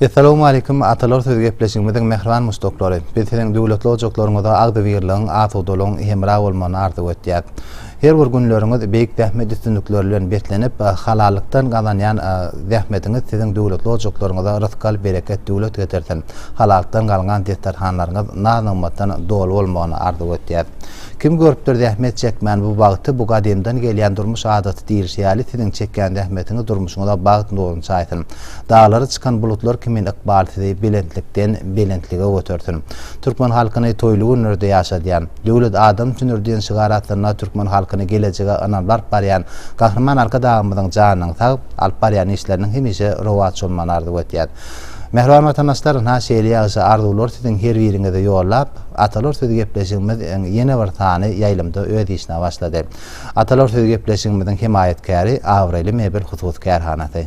Essalawmaleýkum Atalar söz gepleşigimiziň mähriban muşdaklary. Biz siziň döwletli ojaklaryňyzda agzybirligiň, asudalygyň hemra bolmagyny arzuw etýäs. Her bir günleriňiz beýik zähmet üstünlikleri bilen beslenip, halallykdan gazanýan zähmediňiz siziň döwletli ojaklaryňyza rysgal, bereket, döwlet getirsin. Halalykdan galňan desterhanlaryňyz naz-nygmatdan doly bolmagyny arzuw etýäs. Kim görüpdir zähmet çekmän bu bagty, bu gadymdan gelýän durmuş adaty diýlişi ýaly siziň çekýän zähmetiňiz durmuşyňyza bagt nuruny çaýsyn. Daglary çykan bulutlar kimin ykbal sizi belentlikden belentlige götersin. Türkmen halkyny toýly günlerde ýaşadýan. Döwlet adam üçindir diýen şygar astynda türkmen halkyny gelejege ynanyp alyp barýan Gahryman Arkadagymyzyň janynyň sag, alyp barýan işleriniň hemişe rowaç bolmagyny arzuw edýän. Mähriban watandaşlar, ynha şeýle ýagşy arzuwlary siziň her biriňize ýollap, Atalar sözi gepleşigimiz iň ýene bir sany ýaýlymda öz işine başlady. Atalar sözi gepleşigimiziň hemaýatkäri, abraýly Mebel hususy kärhanasy.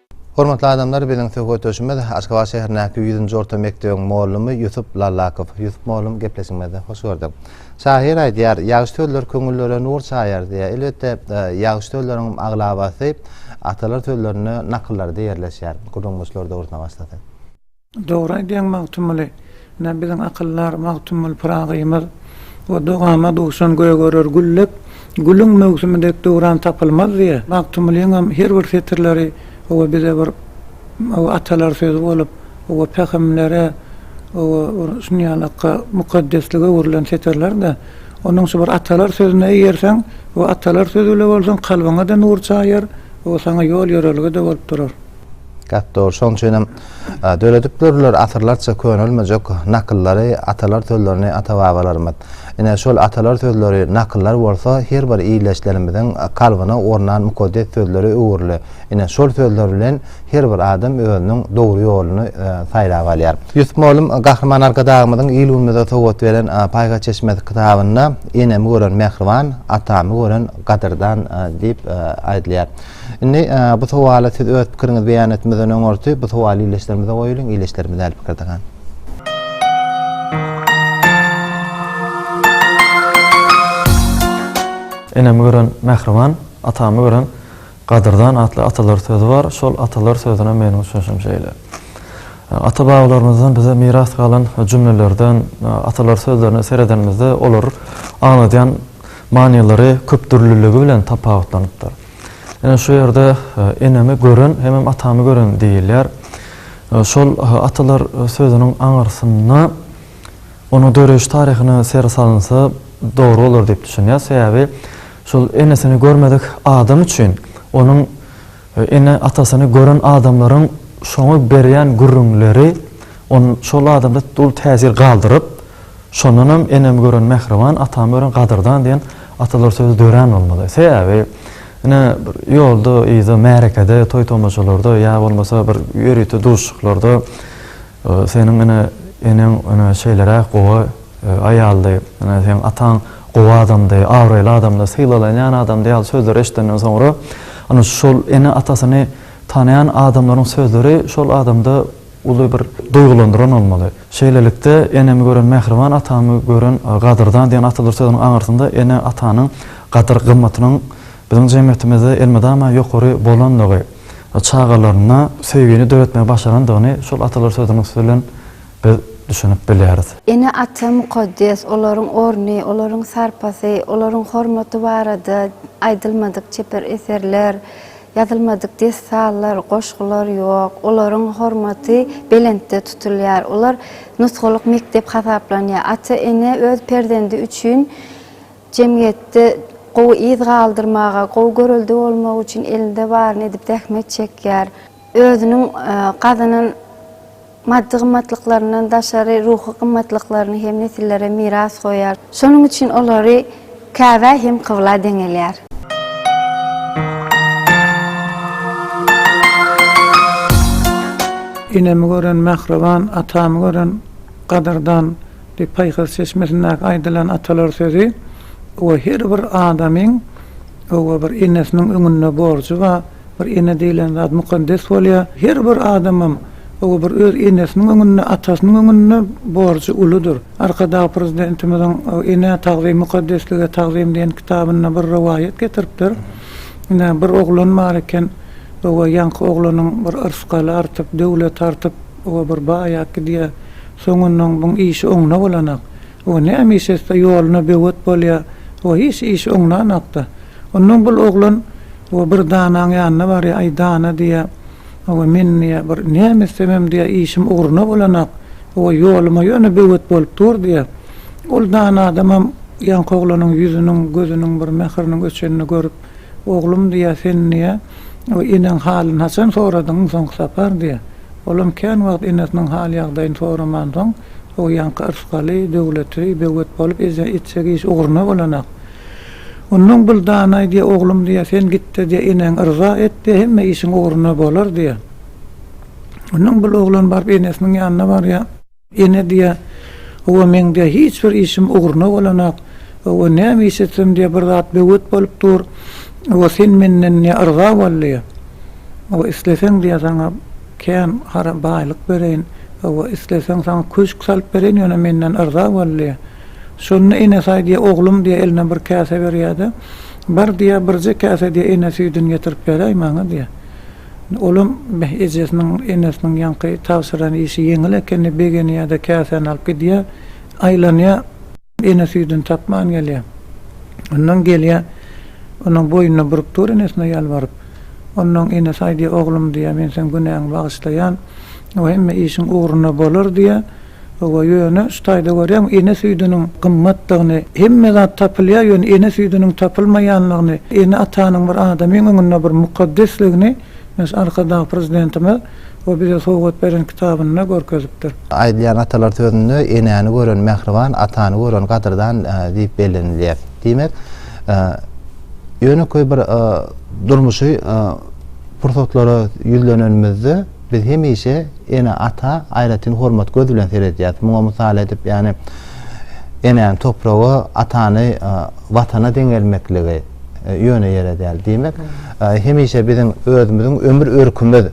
Hormatly adamlar biziň söhbetdeşimiz Aşgabat şäherindäki ýüzünji orta mekdebiň mollumy Ýusup Lallakow. Ýusup mollum gepleşigimizde hoş gördük. Şahyr aýdýar, Ýagşy sözler köňüllere nur çaýar diýýär. Elbetde ýagşy sözleriňem aglabasy atalar sözlerinde nakyllarda ýerleşýär. Gürrüňdeşler dogrusyna başlasak. Dogry aýdýaň Magtymguly. Ine biziň akyldar Magtymguly Pyragymyz. O dogama duşan gök örer güllep, Gülüň möwsümi dek döwran tapylmaz diýe. Magtymgulyňam her bir setirleri oba bize bir oba atalar sözi bolup, oba pähimlere, oba bir şunýalykka mukaddeslige öwrülen setirler-de. Onuň şu bir atalar sözüne eýerseň, o atalar sözi bile bolsaň kalbyňa-da nur çaýar, o saňa ýol-ýörelge-de bolup durar. Gap dogry, şoň üçinem döredip durlar asyrlarça könelmejek nakyllary, atalar sözlerini ata-babalarymyz. Ine, şol atalar sözleri nakyllar bolsa, her bir ildeşlerimiziň kalbyna ornan mukaddes sözlere öwrüli. Ine, şol sözler bilen her bir adam özüniň dogry ýoluny saýlap alýar. Ýusup mugallym Gahryman Arkadagymyzyň il-günümize sowgat beren Paýhas çeşmesi kitabynda Enemi gören mähriban, atamy gören gadyrdan diýip aýdylýar. Indi bu sowala siz öz pikiriňizi beýan etmeden öňürti bu sowaly ildeşlerimize goýulyň, ildeşlerimiz däli pikir dagan. Enemi gören mähriban, atamy gören gadyrdan atly atalar sözi bar. Şol atalar sözüne meniň düşünişim şeýle. Ata-babalarymyzdan bize miras galan jümlelerden, atalar sözlerine seredenimizde olar aňladýan manylary köpdürlüligi bilen tapawutlanypdyr. Ine, şu ýerde enemi gören hemem atamy gören diýilýär. Şol atalar sözüniň aňyrsynda onuň döreýiş taryhyna ser salynsa dogry bolar diýip düşünýär. Sebäbi şol enesini görmedik adam üçin onuň Ene atasyny gören adamlaryň şoňa berýän gürrüňleri on şol adamda uly täsir galdyryp, şondanam enemi gören mähriban, atamy gören gadyrdan diýen atalar sözi dörän bolmaly. Sebäbi ine bir ýolda, yzda, märekede, toý-tomaşalarda ýa bolmasa bir ýörite duşuşyklarda, Seniň ene eneň ene şeýleräk gowy aýaldy, ene seň ataň gowy adamdy, abraýly adamdy, sylalanýan adamdy ýaly sözleri eşidenden soňra ene şol ene atasyny tanaýan adamlaryň sözleri şol adamda uly bir duýgulandyran bolmaly. Şeýlelikde enemi gören mähriban atamy gören gadyrdan diýen atalar sözüniň aňyrsynda ene atanyň gadyr gymmatynyň biziň jemgyýetimizde elmydama ýokary bolanlygy, çagalarynda söýgini döretmegi başarandygyny şol atalar sözüniň üsti bilen biz düşünip bilýäris. Ene-ata mukaddes, olaryň orny, olaryň sarpasy, olaryň hormaty barada aýdylmadyk çeper eserler, ýazylmadyk dessanlar, goşgular ýok. Olaryň hormaty belentde tutulýar. Olar nusgalyk mekdep hasaplanýar. Ata-ene öz perzendi üçin. Jemgyýetde gowy yz galdyrmaga, gowy görelde bolmak üçin elinde baryny edip zähmet çekýär. Özüniň gazanan maddy gymmatlyklaryndan daşary ruhy gymmatlyklaryny hem nesillere miras goýýar. Şonuň üçin olary Käbä hem kybla deňelýär. Enemi gören mähriban, atamy gören gadyrdan Diýip, Paýhas çeşmesindäki aýdylan atalar sözi we her bir adamyň we bir enesiniň öňünde borjy bar. Bir ene diýlen zat mukaddes bolýar. Her bir adamym we bir öz enesiniň öňünde, atasynyň öňünde borjy uludyr. Arkadag Prezidentimiziň Enä tagzym, mukaddeslige tagzym diýen kitabynda bir rowaýat getiripdir. Ine, bir oglan bar eken we ýaňky oglanyň bir yrsgaly artyp, döwleti artyp, Oba bir baýap gidýä. Soňundan buň işi oňuna bolanak. O näme iş etse ýoluna böwet bolýa. O hiç iş oňlanakda. Ondan bul oglan o bir danaň ýanyna barýa, aý dana diýä. Oba men diýä bir näme etsemem diýä işim ugruna bolanak. Oba ýoluma ýöne böwet bolup dur diýä. Ol dana adamam ýaňky oglanyň ýüzüniň, gözüniň bir mähriniň öçenini görüp. Oglum, diýýär, sen, diýýär, o eneň halyny haçan soradyň soňky sapar, diýýär. Olam kän wagt enesiniň hal-ýagdaýyny soramansoň, o ýaňky yrskaly, döwletli, böwet bolup eje etjek iş ugruna bolanak. Onnoň Byldanay, diýýär, oglum, diýýär, sen git-de, diýýär, eneň yrza et, diýýär, hemme işiň ugruna bolar, diýýär. Onnoň Byloglan baryp enesiniň ýanyna barýar. Ene diýýär, Hawa, meň diýýär, hiç bir işim ugruna bolanok. Hawa, näme iş etsem diýýär, bir zat böwet bolup dur. Hawa, sen menden diýýär, yrza bol diýýär. Hawa, isleseň diýýär, saňa kän hara baýlyk bereýin. Hawa, isleseň saňa köşk salyp bereýin, ýöne menden yrza bol diýýär. Şonda Enesaý diýýär, Oglum diýýär, eline bir käse berýär-de, Bar diýýär, birje käse diýýär, ene süýdüni getirip beräý maňa diýýär. Olam beh ejesiniň enesiniň ýaňky tabşyran işi ýeňil ekenine begenýä-de käsäni alyp gidýä, aýlanýa ene süýdüni tapman gelýä. Onnoň gelýä onuň boýnuna burup dur enesine ýalbaryp. Onnoň enesi aýdýa oglum diýä men seň günäňi bagyşlaýan we hemme işiň ugruna bolar diýä. Hawa, ýöne şu taýda görýäňmi, ene süýdüniň gymmatdygyny, hemme zat tapylýar, ýöne ene süýdüniň tapylmaýanlygyny, ene-atanyň bir adamyň öňünde bir mukaddesligini men şu Arkadag Prezidentimiz we bize sowgat beren kitabynda görkezipdir. Aýdylýan atalar sözünde Enäni gören mähriban, atany gören gadyrdan diýip bellenilýär. Diýmek, ýönekeý bir durmuşy pursatlara ýüzlenenimizde, Biz hemişe ene-ata aýratyn hormat göz bilen seredýäris. Muňa mysal edip, ýagny enäni topraga, atany Watana deňelmekligi ýöne ýere däl. Diýmek, hemişe biziň özümiziň ömür örkümiz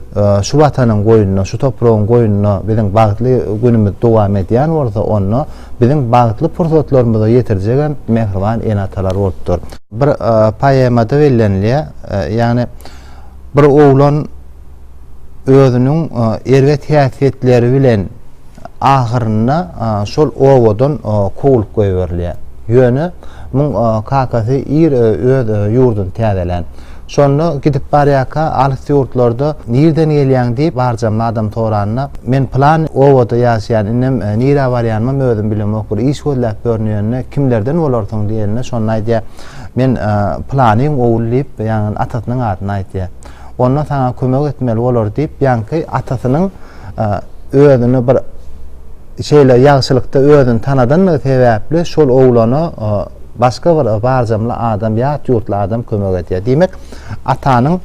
şu Watanyň goýnunda, şu topragyň goýnunda biziň bagtly günümiz dowam edýän bolsa, onda biziň bagtly pursatlarymyzy ýetirjegem mähriban ene-atalar bolup dur. Bir poemada bellenilýär, ýagny bir oglan, özüniň erbet häsiýetleri bilen ahyrynda şol obadan kowlup goýberilýär. Ýöne muň kakasy ir öz ýurduny täzelän. Şonda gidip barýarka alys ýurtlarda nirden gelýäň diýip barjam adam soranda, men pylan obada ýaşaýan, indem nirä barýanymam özüm bilemok, bir iş gözläp ýörün ýöne kimlerden bolarsyň diýende şonda aýdýar, men pylanyň ogly diýip, ýagny atasynyň adyny aýdýar. Onda saňa kömek etmeli bolar diýip, ýaňky atasynyň özüni bir şeýle ýagşylykda özüni tanadandygy sebäpli şol oglana başga bir barjamly adam, ýat ýurtly adam kömek edýär. Diýmek, atanyň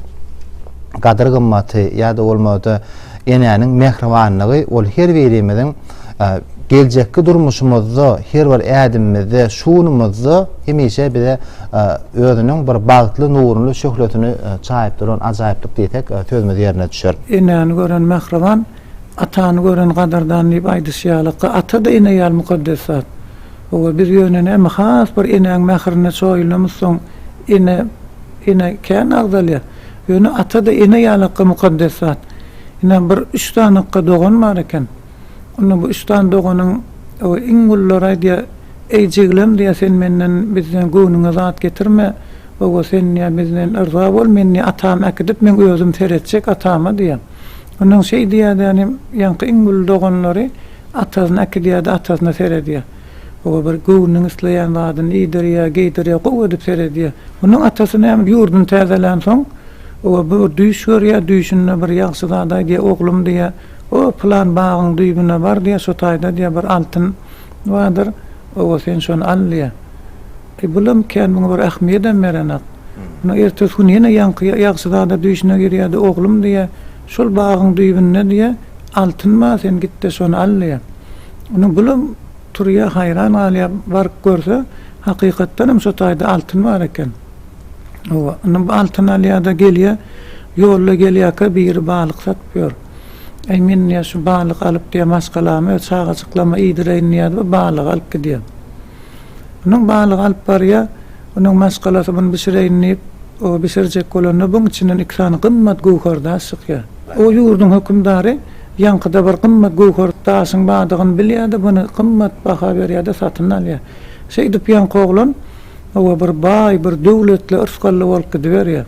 gadyr-gymmaty ýa-da bolmasa enäniň mähribanlygy ol her birimiziň geljekki durmuşymyzda her bir ädimimizde, şu günümizde hemişe bize özüniň bir bagtly nurly şöhlesini çaýyp duran ajaýyplyk diýsek, sözümiz ýerine düşer. Enäni gören mähriban, atany gören gadyrdan diýip aýdyşy ýalyka, ata-da ene ýaly mukaddes zat. Hawa, biz ýöne näme has bir enäň mährine çoýulamyzsoň, ene, ene kän agzalýar. Ýöne ata-da ene ýalykka mukaddes zat. Ine, bir üç sanykka dogan bar eken. Onda bu üç sany doganyň iň gullary aýdýar, Eý, jiglem, diýýär, sen menden, bizden göwnüňe zat getirme. Oba, sen, diýýär, bizden yrza bol, men, diýýär, atam äkidip, men özüm seretjek atama, diýýär. Ondan şeý diýýär-de, ýagny ýaňky iň gully doganlary atasyny äkidýär-de, atasyna seredýär. Oba bir göwnüniň isleýän zadyny iýdirýär, geýdirýär, gowy edip seredýär. Onuň atasy näme, ýurduny täzelänsoň, oba bir düýş görýär, düýşünde bir ýagşy zat aýdýar, Oglum, diýýär, O, pylan bagyň düýbüne bar, diýýär, şo taýda, diýýär, bir altyn bardyr, oba, sen şony al, diýýär. E, bulam kän muňa bir ähmiýedem berenak. Muny ertesi gün ýene ýaňky ýagşyzada düýşüne girýär-de, Oglum, diýýär, şol bagyň düýbünde, diýýär, altyn bar, sen git-de şony al, diýýär. Indi bulam turýar, haýran galýar, baryp görse, hakykatdanam şo taýda altyn bar eken. Oba, indi bu altyn alýar-da gelýär. Ýolda gelýärkä biri balyk satyp ýör. Äý, men diýýär, şu balygy alyp diýýär, maşgalama we çagajyklama iýdireýin diýýär we balygy alyp gidýär. Indi balygy alyp barýar. Indi maşgalasy muny bişireýin diýip, o bişirjek bolanda buň içinden iki sany gymmat göwher daş çykýar. O ýurduň hökümdary ýaňkyda bir gymmat göwher daşyň bardygyny bilýär-de, muny gymmat baha berýär-de satyn alýar. Şeýdip ýaňky oglan. Hawa, bir baý, bir döwletli yrsgally bolup gidiberýär.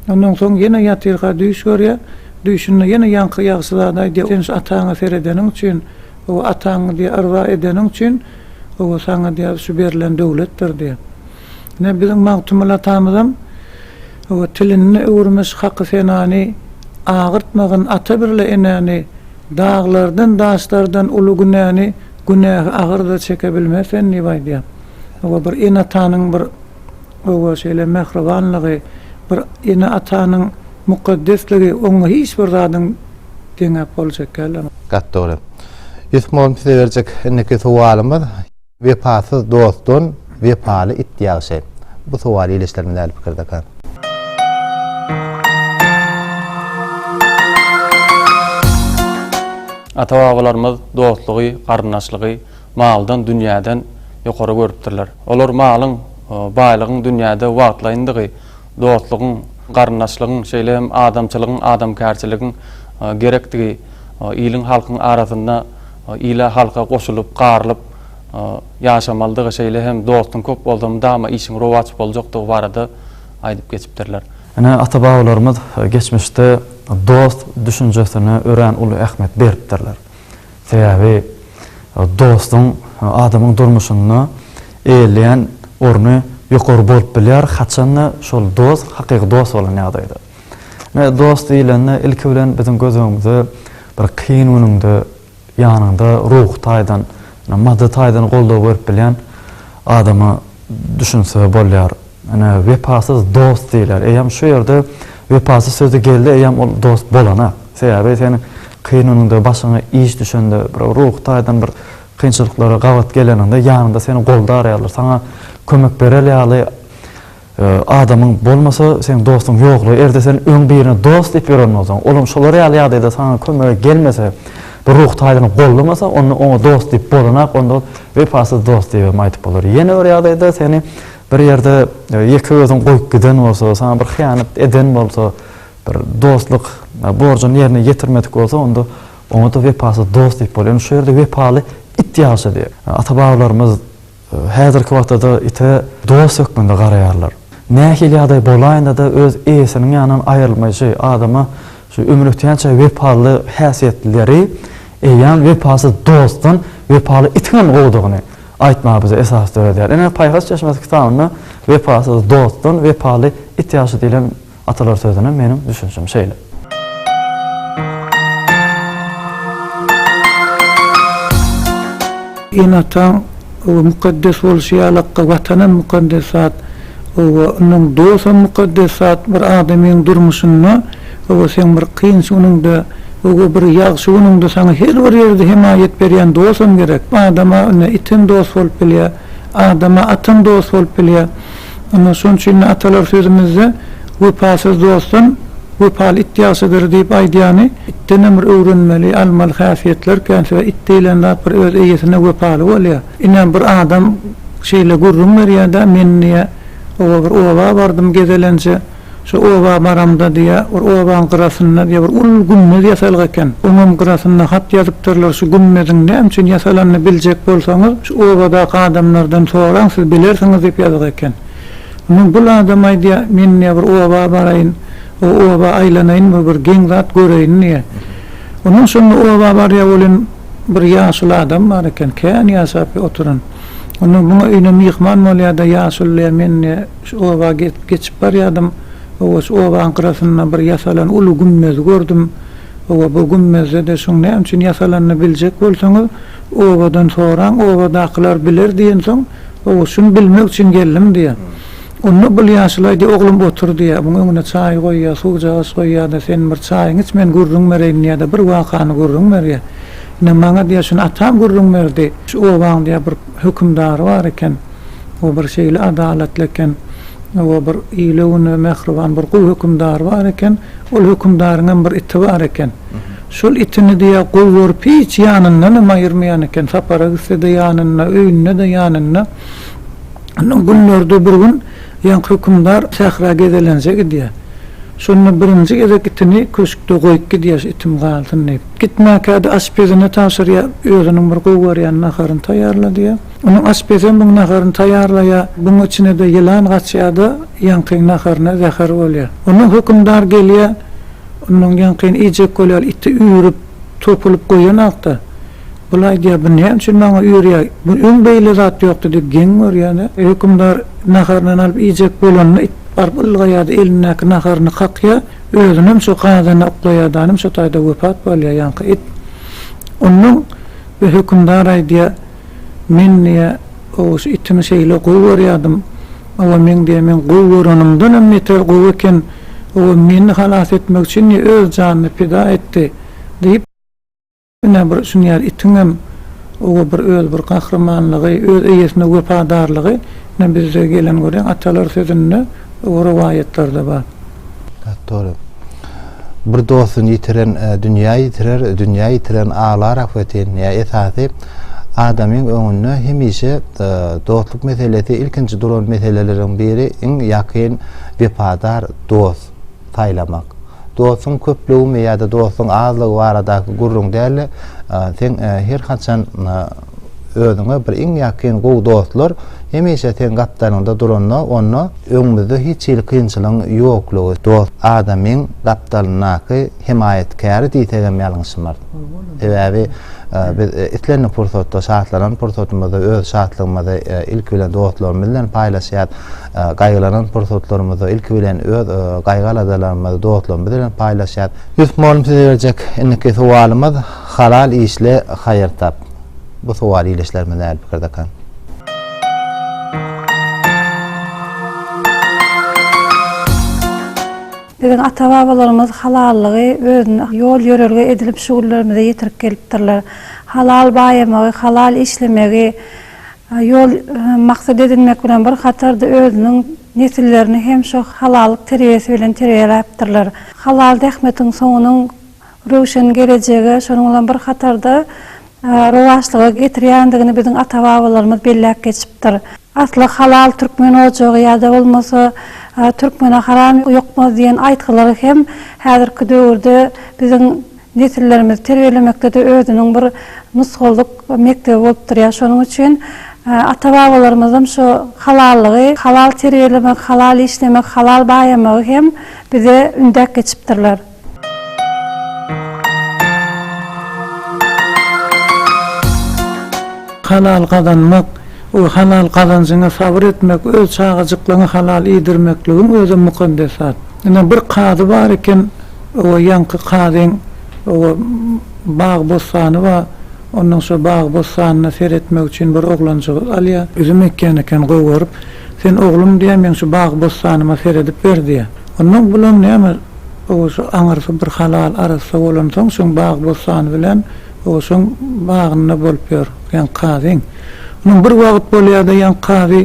Ondan soň ýene ýatyrka düýş görýär. Düýşünde ýene ýaňky ýagşy zady aýdýar, Sen şu ataňa seredeniň üçin, hawa, ataňy diýýär, yrza edeniň üçin, hawa, saňa diýýär, şu berlen döwletdir diýýär. Ine, biziň Magtymguly atamyzam, hawa, Tilini öwürmiş haky senany, Agyrtmagyn ata birle enäni, Daglardan, daşlardan uly günäni, Günähi agyr-da çeke bilmez sen diýip aýdýar. Oňa bir ene-atanyň bir oba şeýle mähribanlygy, bir ene-atanyň mukaddesligi, oňa hiç bir zadyň deňäp boljak däl. Gaty dogry. Ýusuf mugallym size berjek indiki sowalymyz, Wepasyz dostdan wepaly it ýagşy. Bu sowal ildeşlerimiz äli pikirdeka. Ata-babalarymyz dostlugy, garyndaşlygy, maldan, dünýäden ýokary görüpdirler. Olar malyň, baýlygyň dünýäde wagtlaýyndygy, dostlugyň, garyndaşlygyň, şeýle hem adamçylygyň, adamkärçiligiň gerekdigi, iliň-halkyň arasynda ile-halka goşulyp, garylyp ýaşamalydygy, şeýle hem dostuň köp bolsa mydama işiň rowaç boljakdygy barada aýdyp geçipdirler. Ine, ata-babalarymyz geçmişde dost düşünjesine örän uly ähmiýet beripdirler. Sebäbi dostuň adamyň durmuşynda eýeleýän orny ýokary bolup bilýär, haçan-da şol dost hakyky dost bolan ýagdaýda. Ine, dost diýlende, ilki bilen biziň göz öňümize bir kyn günüňde ýanyňda ruhy taýdan, maddy taýdan goldaw berip bilýän adamy düşünse bolýar. Ine, wepasyz dost diýler. Eýýäm şu ýerde wepasyz sözi geldi, eýýäm ol dost bolanak. Sebäbi seniň kyn günüňde, başyňa iş düşende, bir ruhy taýdan bir kynçylyklara gabat geleniňde ýanyňda seni goldar ýaly, saňa kömek berer ýaly adamyň bolmasa, seň dostuň ýoklugy. Eger-de sen öň birini dost diýip ýören bolsaň, olam şolar ýaly ýagdaýda saňa kömege gelmese, bir ruhy taýdan gollamasa, onda oňa dost diýip bolanak, onda ol wepasyz dost diýibem aýdyp bolar. Ýene bir ýagdaýda seni Bir ýerde ýeke özüň goýup giden bolsa, saňa bir hyýanat eden bolsa, bir dostluk borjuny ýerine ýetirmedik bolsa, onda oňa-da wepasyz dost diýip bolýar. Indi şu ýerde wepaly it ýagşy diýýär. Ata-babalarymyz häzirki wagtda-da ite dost hökmünde garaýarlar. Nähili ýagdaý bolaýynda-da öz eýesiniň ýanyndan aýrylmaýşy, adama şu ömür ötýänçä wepaly häsiýetlileri eýýäm wepasyz dostdan wepaly itiňem gowudygyny, Aýtmaga bize esas döredýär. Ine, Paýhas çeşmesi kitabynda Wepasyz dostdan wepaly it ýagşy diýlen atalar sözüne meniň düşünşim şeýle. Ene-ataň oba mukaddes bolşy ýaly akga Watanam mukaddes zat. Oba, ynhan, dos hem mukaddes zat. Bir adamyň durmuşynda Hawa seň bir kyn sunuňda öwü bir ýagşy günüňde saňa her bir ýerde hemaýat berýän dosam gerek. Adama ine item dos bolup bilýä. Adama atam dos bolup bilýä. Ine şoň üçin-de atalar sözümizde Wepasyz dostdan wepaly it ýagşydyr diýip aýdýany itdenem bir öwrenmeli, almaly häsiýetler kän sebäp it diýlen zat bir öz eýesine wepaly bolýa. Ine bir adam şeýle gürrüň berýä-de men diýä oba bir oba bardym gezelenje. Şu oba baramda diýýä, bir obaň gyrasynda diýýä, bir uly gümmez ýasalyk eken. Oňam gyrasynda hat ýazypdyrlar, şu gümmeziň näme üçin ýasalanyny biljek bolsaňyz, şu obadaky adamlardan soraň, siz bilersiňiz diýip ýazyk eken. Ondan bul adam aýdýa, men diýýä, bir oba baraýyn, o oba aýlanaýyn we bir geň zat göreýin diýýä. Ondan şonda oba barýa, ol hem bir ýaşuly adam bar eken, kän ýaşap oturan. Onda muňa öýüne myhman bolýa-da, ýaşuly diýýä, men diýýä, Şu oba geçip barýardym. Oba şu obaň gyrasynda bir ýasalan uly gümmezi gördüm. Oba bu gümmezde-de şuň näme üçin ýasalanyny biljek bolsaňyz, obadan soraň, obadakylar biler diýensoň, oba şuny bilmek üçin geldim diýýär. Onda bul ýaşuly aýdýar, Oglum otur diýýär. Muň öňüne çaý goýýar, suwjagaz goýýar-da, Sen bir çaýyňy iç, men gürrüň bereýin diýýär-de, bir wakany gürrüň berýär. Ine, maňa diýýär, şuny atam gürrüň berdi. Şu obaň diýýär, bir hökümdary bar eken. O bir şeýle adalatly eken. O bir ile-güne mähriban bir gowy hökümdar bar eken. Ol hökümdaryň hem bir iti bar eken. Şol itini diýýär, gowy görüp hiç ýanyndan hem aýyrmaýan eken. Sapara gitse-de ýanynda, öýünde-de ýanynda. Ondan günlerde bir gün ýaňky hökümdar sähra gezelenje gidýär. Şonda birinji gezek itini köşkde goýup gidýär, şu itim galsyn diýip. Gitmäkä-de aşpezine tabşyrýar, özüniň bir gowy görýän naharyny taýýarla diýýär. Onuň aşpezem muň naharyny taýýarlaýar, buň içine-de ýylan gaçýar-da, ýaňkyň naharyna zäher bolýar. Onda hökümdar gelýär, ondan ýaňkyny iýjek bolýar, iti üýrüp, topulyp goýan hakda. Ol aýdýar, bu näme üçin maňa üýrýär, bu öň beýle zat ýokdy diýip geň görýär-de, hökümdar naharyndan alyp iýjek bolanda it baryp ylgaýar-da, elindäki naharyny kakýar, özünem şo gazana uklaýar-da, anym şo taýda wepat bolýar, ýaňky it. Ondan bu hökümdar aýdýar. Men diýýär, Gowusy itimi şeýle gowy görýärdim. Hawa, meň diýýär, meň gowy görenimden hem beter gowy eken. Hawa, meni halas etmek üçin diýýär, öz janyny pida etdi, diýip, ine, bir şuny ýaly itiň hem, hawa, bir öz bir gahrymanlygy, öz eýesine wepadarlygy, ine, bizde gelen, görýäňmi, atalar sözünde. Bu rowaýatlarda bar. Hat dogry. Bir dostuny ýitiren dünýä ýitirer, dünýä ýitiren aglar ahbetin. Ýa esasy adamyň öňünde hemişe dostluk meselesi ilkinji duran meseleleriň biri iň ýakyn wepadar dost saýlamak. Dostuň köplügimi ýa-da dostuň azlygy baradaky gürrüň däl-de, seň her haçan Özüňe bir iň ýakyn gowy dostlar hemişe seň gapdalňda duranda onda öňümizde hiç hili kynçylygyň ýoklugy dost adamyň gapdalyndaky hemaýatkäri diýsegem ýalňyşmaz. Sebäbi biz islendik pursatda şatlanan pursatymyzda öz şatlygymyzy ilki bilen dostlarymyz bilen paýlaşýas, gaýgylanan pursatlarymyzda ilki bilen öz gaýgy-aladalarymyzy dostlarymyz bilen paýlaşýas. Ýusuf mugallym size berjek indiki sowalymyz. Halal işle haýyr tap. Bu sowal ildeşlerimiz nähili pikirdekan? Biziň ata-babalarymyz halallygy özüne ýol-ýörelge edinip şu günlerimize ýetirip gelipdirler. Halal baýamagy, halal işlemegi ýol, maksat edinmek bilen bir hatarda özüniň nesillerini hem şu halallyk terbiýesi bilen terbiýeläpdirler. Halal zähmetiň soňunyň röwşen gelejege, şonuň bilen bir hatarda rowaçlyga getirýändigini biziň ata-babalarymyz belläp geçipdir. Asly halal türkmen ojagy ýa-da bolmasa Türkmene haram ýokmaz diýen aýtgylary hem häzirki döwürde biziň nesillerimizi terbiýelemekde-de özüniň bir nusgalyk mekdebi bolup durýar. Şonuň üçin ata-babalarymyzyň şu halallygy, halal terbiýelemek, halal işlemek, halal baýamagy hem bize ündäp geçipdirler. Halal gazanmak we halal gazanjyňa sabyr etmek öz çagajyklaňy halal iýdirmekligiň özi mukaddes zat. Ine bir kazy bar eken, oba ýaňky kazyň oba bag bossany ba, ondan şo bag bossanyna seretmek üçin bir oglanjygy alýa, üzüm ekýän eken gowy görüp, sen oglum diýýä meň şu bag bossanyma seredip ber diýýä. Onda bulam näme Oguşa aňyrsy bir halal arassa bolansoň, şoň bagy-bossany bilen Oguşyň bagynda bolup ýör ýaňky kazyň. Onuň bir wagt bolýar-da, ýaňky kazy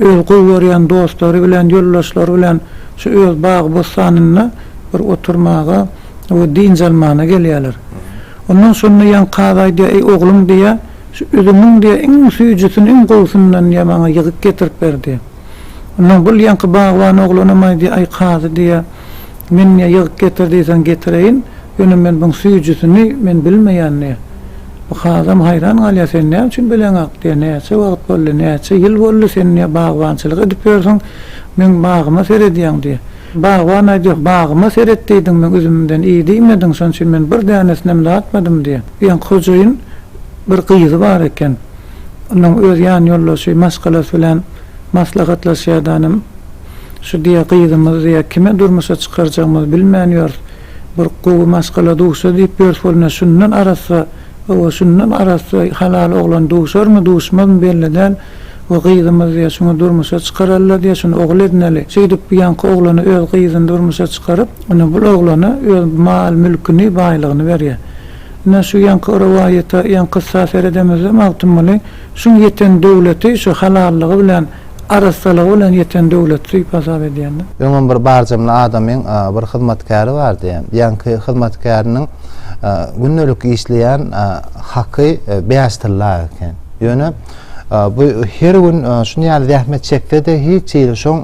özi gowy görýän dostlary bilen, ýoldaşlary bilen şu öz bagy-bossanynda bir oturmaga we dynç almana gelýärler. Ondan şonda ýaňky kazy aýdýar, Eý, oglum, diýýär, şu üzümiň, diýýär, iň süýjüsini, iň gowusyndan, diýýär, maňa ýygyk getirip ber, diýýär. Ondan gul ýaňky bagban oglanam aýdy, Aý, kazy, diýýä, men, diýýä, ýygyk getir diýseň getireýin, ýöne men buň süýjüsini men bilmeýän, diýýä. Bu kazam haýran galýa, Sen näme üçin bileňok, diýýä, näçe wagt boldy, näçe ýyl boldy sen, diýýä, bagbançylyk edip ýörsüň, meň bagyma seredýäň, diýýä. Bagban aýdy, Bagyma seret diýdiň, meň üzümimden iý diýmediň, şonuň üçin men bir dänesinem datmadym, diýýä. Bu ýaňky hojaýyn bir gyzy bar eken. Onuň öz ýan ýoldaşy maşgalasy bilen maslahatlaşýardanam şu diýýär, gyzymyz diýýär, kime durmuşa çykarjagymyzy bilmän ýörüs. Bir gowy maşgala duşsa diýip ýörüs bolna şundan arassa, hawa, şundan arassa halal oglan duşarmy, duşmazmy belli däl. We gyzymyz diýýär, şuny durmuşa çykaraly-la diýýär, şuny ogul edineli. Şeýdip bu ýaňky oglany öz gyzyny durmuşa çykaryp, ine bul oglana öz mal-mülküni, baýlygyny berýär. Ine, şu ýaňky rowaýata, ýaňky kyssa seredemizde Magtymguly şuň ýeten döwleti şu halallygy bilen, arassalygy bilen ýeten döwlet diýip hasap edýän. Öňem bir barjamly adamyň bir hyzmatkäri bardy. Ýaňky hyzmatkäriniň gündelik işleýän haky bäş tylla eken. Ýöne bu her gün şuny ýaly zähmet çekse-de hiç ýyl şoň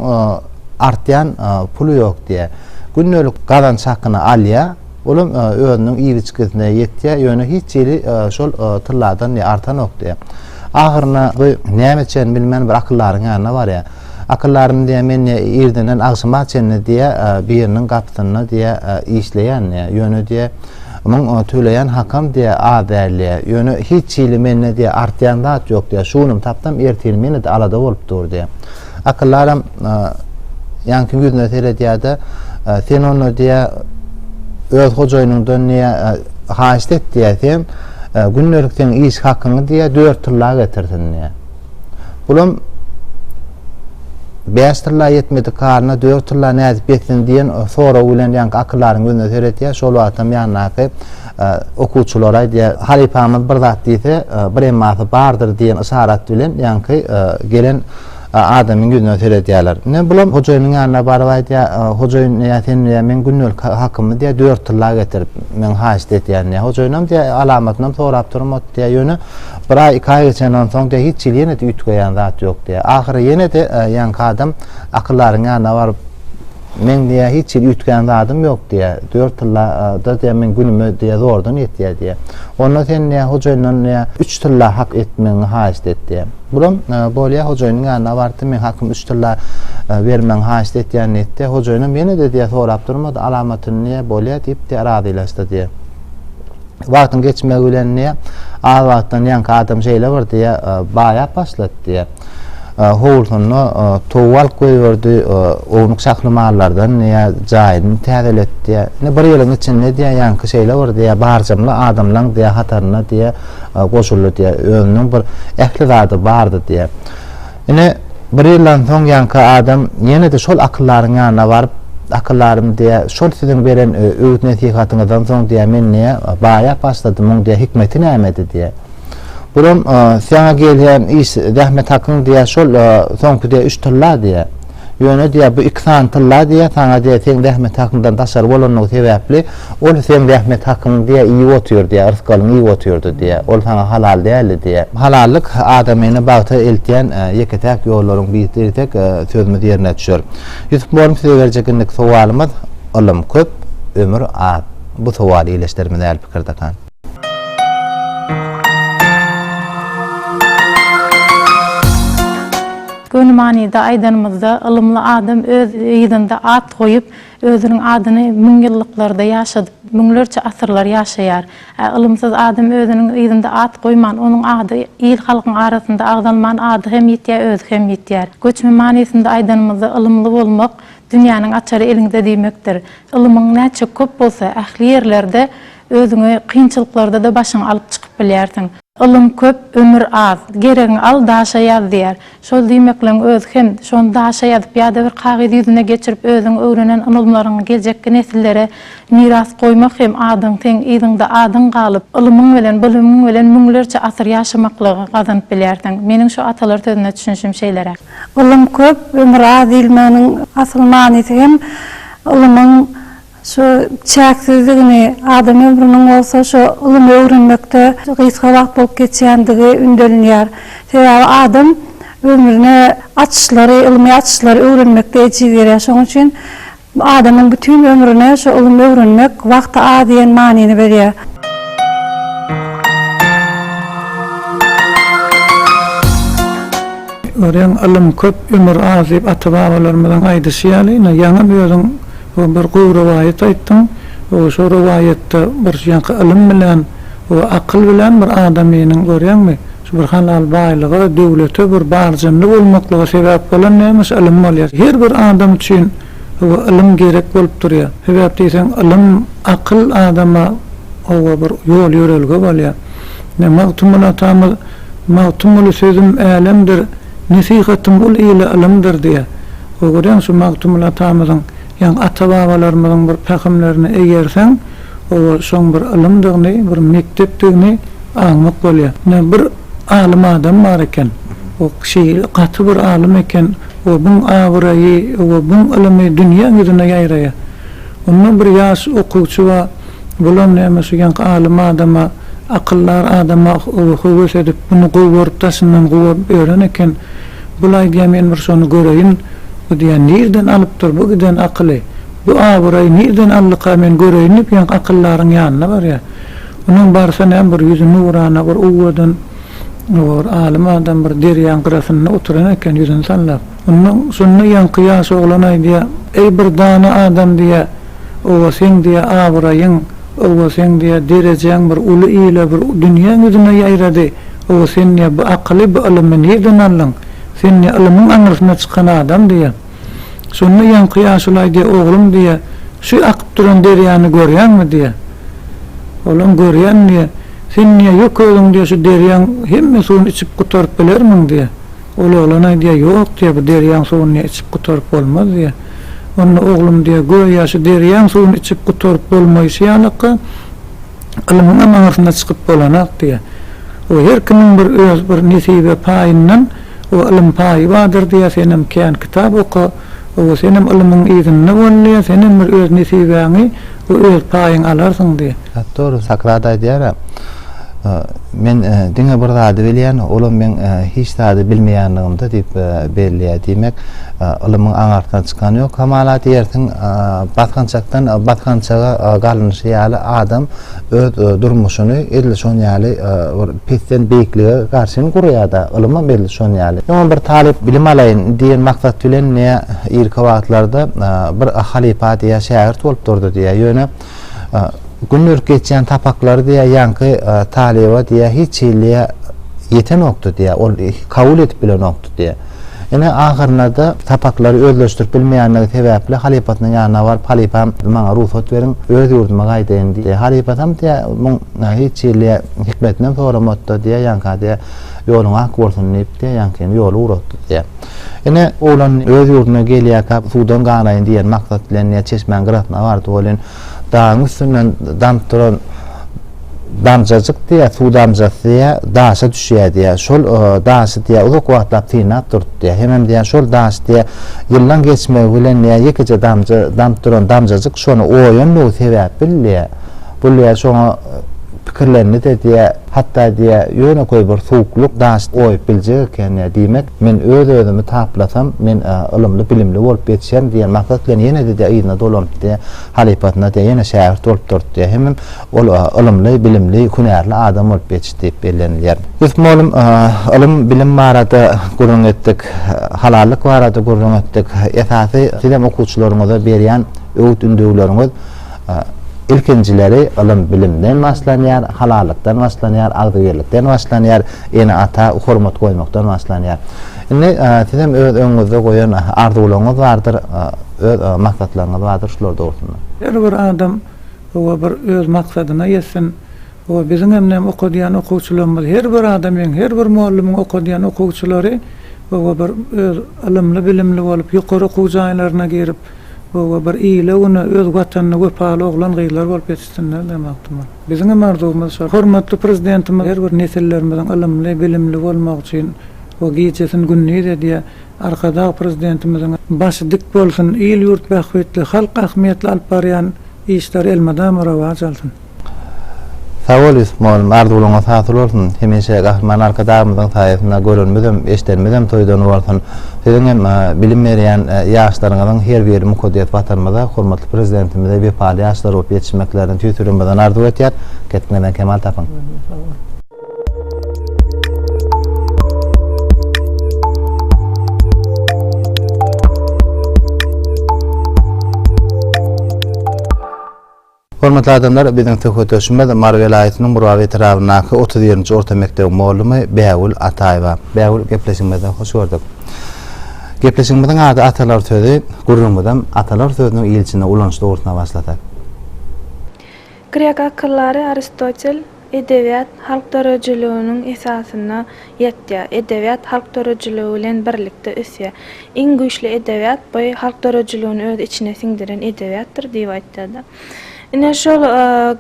artýan puly ýok diýýär. Gündelik gazanç hakyny alýar. Olam özüniň iliçkisine ýetýär, ýöne hiç hili şol tylladan artanokdy. Ahyryna bu näme çen bilmän bir akyllaryň ýanyna barýar. Akyllaryny diýýär, men diýýär, irdenden agşama çenli diýýär, biriniň gapysynda diýýär, işleýän diýýär. Ýöne diýýär, muň töleýän hakam diýýär, az däl diýýär. Ýöne hiç hili mende diýýär, artýan zat ýok diýýär. Şu günim tapsam, ertirim ýene-de alada bolup dur diýýär. Akyllaram ýaňky ýüzüne seredýärde, sen onda diýä öz hojaýynyňdan diýä haýyşt et diýä sen gündelik sen iş hakyňy diýä 4 tylla getirsin diýä. Bulam 5 tylla ýetmedi karyna 4 tylla nädip ýetsin diýen sorag bilen ýaňky akyllaryň ýüzüne seredýär. Şol wagtam ýandaky Okuwçylara aýdýar, Halypamyz bir zat diýse, bir emmasy bardyr diýen yşarat bilen ýaňky gelen adamyň ýüzüne seredýärler. Ine, bulam hojaýynyň ýanyna baryp aýdýar, Hojaýyn, ýa sen diýýär, meň gündelik hakymy diýýär, dört tylla getir, men haýyşt edýän diýýär. Hojaýynam diýýär, alamatynam sorap durym ot diýýär, ýöne bir aý, iki aý geçenden soň diýýär, hiç hili ýene-de üýtgeýän zat ýok diýýär. Ahyry ýene-de ýaňky adam akyldaryň ýanyna baryp, Meň diýýär, hiç hili üýtgän zadym ýok diýýär. Dört tylla-da diýýär, meň günüme diýýär, zordan ýetýär diýýär. Onda sen diýýär, hojaýyndan diýýär, üç tylla hak etmegiňi haýyşt et diýýär. Bulam, Bolýa, hojaýynyň ýanyna bardy, meň hakymy üç tylla bermegiňi haýyşt etýän diýdi. Hojaýynam ýene-de diýýär, sorap durmady, alamatyny diýýär, bolýa diýip diýýär, razylaşdy diýýär. Wagtyň geçmegi bilen diýýär, az wagtdan ýaňky adam şeýle bir diýýär, baýap başlady diýýär. Howlusynda towal goýberdi, ownuk şahly mallardan diýýär, jaýyny täzeletdi diýýär. Indi bir ýylyň içinde diýýär, ýaňky şeýle bir diýýär, barjamly adamlaň diýýär, hataryna diýýär, goşuldy diýýär. Özüniň bir ähli zady bardy diýýär. Ine, bir ýyldan soň ýaňky adam ýene-de şol akyllaryň ýanyna baryp, Akyllarym diýýär, şol siziň beren öwüt-nesihatyňyzdan soň diýýär, men diýýär, baýap başladym, muň diýýär, hikmeti nämedi diýýär. Bulam saňa gelýän iş zähmet hakyň diýýär şol soňky diýýär üç tylla diýýär. Ýöne diýýär bu iki sany tylla diýýär saňa diýýär seň zähmet hakyňdan daşary bolanlygy sebäpli ol seň zähmet hakyňy diýýär iýip otyr diýýär rysgalyňy iýip otyrdy diýýär ol saňa halal däldi diýýär. Halallyk adamyny bagta eltýän ýeke-täk ýollaryň biri diýsek sözümiz ýerine düşer. Ýusup mugallym size berjek indiki sowalymyz Ylym köp, ömür az. Bu sowal ildeşlerimize äl pikir dakan. Göni manyda aýdanymyzda, ylymly adam öz yzynda at goýup, özüniň adyny müňýyllyklarda ýaşadyp, müňlerçe asyrlar ýaşaýar. Ä ylymsyz adam özüniň yzynda at goýman, onuň ady il-halkyň arasynda agzalman ady hem ýitýär, özi hem ýitýär. Göçme manysynda aýdanymyzda ylymly bolmak, dünýäniň açary eliňde diýmekdir. Ylymyň näçe köp bolsa, ähli ýerlerde Özüňi kynçylyklarda-da başyňy alyp çykyp bilýärsiň. Ylym köp, ömür az. Geregiňi al, daşa ýaz diýýär. Şol diýmekleň özi hem, şony daşa ýazyp ýa-da bir kagyz ýüzüne geçirip özüň öwrenen ylymlaryňy geljekki nesillere miras goýmak hem adyň seň yzyňda adyň galyp, ylymyň bilen, bilimiň bilen müňlerçe asyr ýaşamaklygy gazanyp bilýärsiň. Meniň şu atalar sözüne düşünişim şeýleräk. Ylym köp, ömür az diýilmeginiň asyl manysy hem ylymyň Şu çäksizdigini, adam ömrüniň bolsa şu ylym öwrenmekde gysga wagt bolup geçýändigi ündelinýär. Sebäbi adam ömrüne açyşlary, ylmy açyşlary öwrenmekde ejiz gerýär. Şonuň üçin adamyň bütin ömrüne şu ylym öwrenmek wagty az diýen manyny berýär. Örän ylym köp, ömür az diýip ata-babalarymyzyň aýdyşy ýaly, ýaňam özüň We bir gowy rowaýat aýtdyň. We şo rowaýatda bir şu ýaňky ylym bilen we akyl bilen bir adamynyň görýäňmi, şu bir halal baýlyga, döwlete bir barjynly bolmaklyga sebäp bolan nämeş, ylym bolýar. Her bir adam üçin we ylym gerek bolup durýar. Sebäp diýseň ylym, akyl adama we bir ýol-ýörelge bolýar. Ine, Magtymguly atamyz, Magtymguly sözüm älemdir, nesihatym ol ile ylymdyr diýýär. Öwüreň şu Magtymguly atamyzyň, ýaňy ata-babalarymyzyň bir pähimlerini eýerseň, oba şoň bir ylymdygyny, bir mekdepdigini aňmak bolýar. Ine, bir alym adam bar eken. O kişi gaty bir alym eken. Obuň abraýy, obuň ylymy dünýäň ýüzüne ýaýraýar. Onda bir ýaş okuwçy bar. Bulam näme şu ýaňky alym adama, akyldar adama oba höwes edip, muny gowy görüp daşyndan guwap ýören eken. Bulaý diýýän men bir şony göreýin, bu diýýän nirden alypdyr bu giden akyly, bu abyraýy nirden aldyka men göreýin diýip ýaňky akyldaryň ýanyna barýar. Onuň barsa näme bir ýüzi nurana bir owadan bir alym adam bir derýaň gyrasynda oturan eken ýüzüni sallap. Onda şonda ýaňky ýaş oglan aýdýar, Eý bir dana adam diýýär, Owa seň diýe abraýyň, owa seň diýe derejäň bir uly ile bir dünýäň ýüzüne ýaýrady, owa sen diýe bu akyly bu ylymy nirden aldyň, sen diýe ylymyň aňyrsyna çykan adam diýe. Şonda ýaňky ýaşulaý diýe oglum diýe şu akyp duran derýany görýäňmi diýe. Olam görýän diýe. Sen diýe ýok özüň diýe şu derýaň hemme suwuny içip gutaryp bilermiň diýe. Ol oglan aýdýar, Ýok, diýýär, bu derýaň suwuny içip gutaryp bolmaz, diýýär. Onda oglum diýýär, Göýä şu derýaň suwuny içip gutaryp bolmaýşy ýalaka, ylmyňam aňyrsyna çykyp bolanak, diýýär. O her kimiň bir öz bir nesibe paýyndan o ylym paýy bardyr, diýýär, senem kän kitap oka, Owo, senem ylymyň yzynda bolly, senem bir öz nesibäňi we öz paýyňy alarsyň diý. Hat dogry, Sokrat aýdýar-a, Men diňe bir zady bilýän, olam meň hiç zady bilmeýänligimde diýip belleýär. Diýmek, ylymyň aňakdan çykany ýok. Kamalat ýersiň, basgançakdan basgançaga galnyşy ýaly adam öz durmuşyny edil şon ýaly bir pesden beýiklige garşy hem gurýar-da, ylymam edil şon ýaly. Ýöne bir talyp bilim alaýyn diýen maksat bilen ne irki wagtlarda bir halypa diýýär, şägirt bolup durdy diýýär. Ýöne gündelik geçýän sapaklary diýýär, ýaňky talyba diýýär, hiç hiliye ýetenokdy diýýär, ol kabul edip bilenokdy diýýär. Ine, ahyrynada sapaklary özleşdirip bilmeýändigi sebäpli halypasynyň ýanyna baryp, Halypam, maňa rugsat beriň, öz ýurduma gaýdaýyn diýýär. Halypasam diýýär, Muň hiç hili hikmetinem soramat-da diýýär, ýaňka diýýär, ýoluň ak bolsun diýip diýýär, ýaňkyny ýola ugratdy diýýär. Ine, oglan öz ýurduna gelýärkä, suwdan ganaýyn diýen maksat bilen diýýär, çeşmäň gyrasyna bardy welin, Dagyň üstünden damyp duran damjajyk diýýär, suw damjasy diýýär, daşa düşýär diýýär. Şol daşy diýýär, uzak wagtlap synap durdy diýýär. Hemem diýýär, şol daş diýýär, ýyllaň geçmegi bilen diýýär, ýekeje damja damyp duran damjajyk şony oýandygy sebäpli diýýär. Bu diýýär, şoňa pikirlendi-de diýýär, hatda diýýär, ýönekeý bir suwuklyk daşy oýup biljek eken diýýär. Diýmek, Men öz-özümi taplasam, men ylymly, bilimli bolup ýetişerin diýen maksat bilen ýene-de yzyna dolanypdy, halypasyna ýene şägirt bolup durdy, hemem ol ylymly, bilimli, hünärli adam bolup ýetişdi diýip bellenilýär. Ýusup mugallym, Ylym, bilim barada gürrüň etdik, halallyk barada gürrüň etdik. Esasy, sizem okuwçylaryňyza berýän öwüt-ündewleriňiz, Ilkinjileri ylym-bilimden başlanýar, halallykdan başlanýar, agzybirlikden başlanýar, ene-ata hormat goýmakdan başlanýar. Indi siz hem öz öňüňizde goýan arzuwlaryňyz bardyr, öz maksatlaryňyz bardyr, şular dogrusynda. Her bir adam oba bir öz maksadyna ýetsin. Oba biziň hem näm okadýan okuwçylarymyz, her bir adam hem, her bir mugallymyň okadýan okuwçylary oba bir öz ylymly-bilimli bolup, ýokary okuw jaýlaryna girip, Hawa, bir ile-güne öz Watanyna wepaly oglan-gyzlar bolup ýetişsinler diýen magtymyz. Biziň hem arzuwymyz şol. Hormatly Prezidentimiz her bir nesillerimiziň ylymly, bilimli bolmagy üçin we gijesin gündiz edýär. Arkadag Prezidentimiziň başy dik bolsun, il-ýurt bähbitli, halk ähmiýetli alyp barýan işleri elmydama rowaç alsyn! Sag bol Ýusup mugallym, arzuwlaryňyz hasyl bolsun! Hemişe Gahryman Arkadagymyzyň saýasynda görenimizem, eşidenimizem toýdan bolsun! Siziň hem bilim berýän ýaşlaryňyzyň her biri mukaddes Watanymyza, hormatly Prezidentimize wepaly ýaşlar bolup ýetişmeklerini tüýs ýüregimizden arzuw etýär. Kesbiňizden kemal tapyň! Hormatly adamlar, biziň söhbetdeşimiz Mary welaýatynyň Murgap etrabyndaky otuz birinji orta mekdebiň mugallamy Bägül Ataýewa. Bägül, gepleşigimizde hoş gördük. Gepleşigimiziň ady Atalar sözi, gürrüňimizem atalar sözüniň il içinde ulanyş dogrusynda başlasak. Grek akyldary Aristotel Edebiýat halk döredijiliginiň esasyna ýatýar. Edebiýat halk döredijiligi bilen birlikde ösýär. Iň güýçli edebiýat bu halk döredijiligini öz içine siňdiren edebiýatdyr diýip aýtýar-da. Ine, şol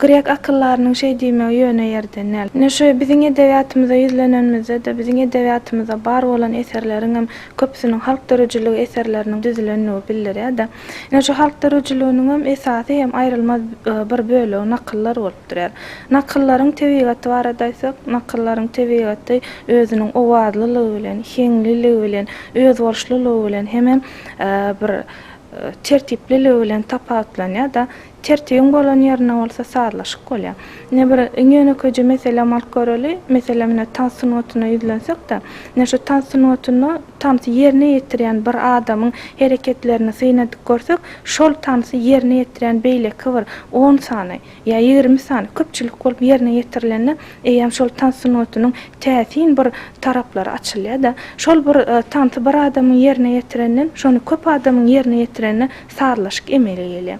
grek akyldarynyň şeý diýmegi ýöne ýerden däl. Ine, şu biziň edebiýatymyza ýüzlenenimizde-de, biziň edebiýatymyzda bar bolan eserleriňem köpüsiniň halk döredijiligi eserleriniň düzülendigi bildirýär-de. Ine şu halk döredijiliginiňem esasy hem aýrylmaz bir bölegi nakyllar bolup durýar. Nakyllaryň tebigaty barada aýtsak, nakyllaryň tebigaty özüniň owazlylygy bilen, heňliligi bilen, özboluşlylygy bilen hemem bir tertipliligi bilen tapawutlanýar-da. Tertibiň bolan ýerinde bolsa sazlaşyk bolýar. Ine bir iň ýönekeýje meselem alyp göreli, meselem ine tans sungatyna ýüzlensek-de, ine şu tans sungatynda tansy ýerine ýetirýän bir adamyň hereketlerini synadip görsek, şol tansy ýerine ýetirýän beýleki bir on sany ýa ýigrimi sany köpçülik bolup ýerine ýetirilende eýýäm şol tans sungatynyň täsin bir taraplary açylýar-da. Şol bir tansy bir adamyň ýerine ýetirenden, şony köp adamyň ýerine ýetirende sazlaşyk emele gelýär.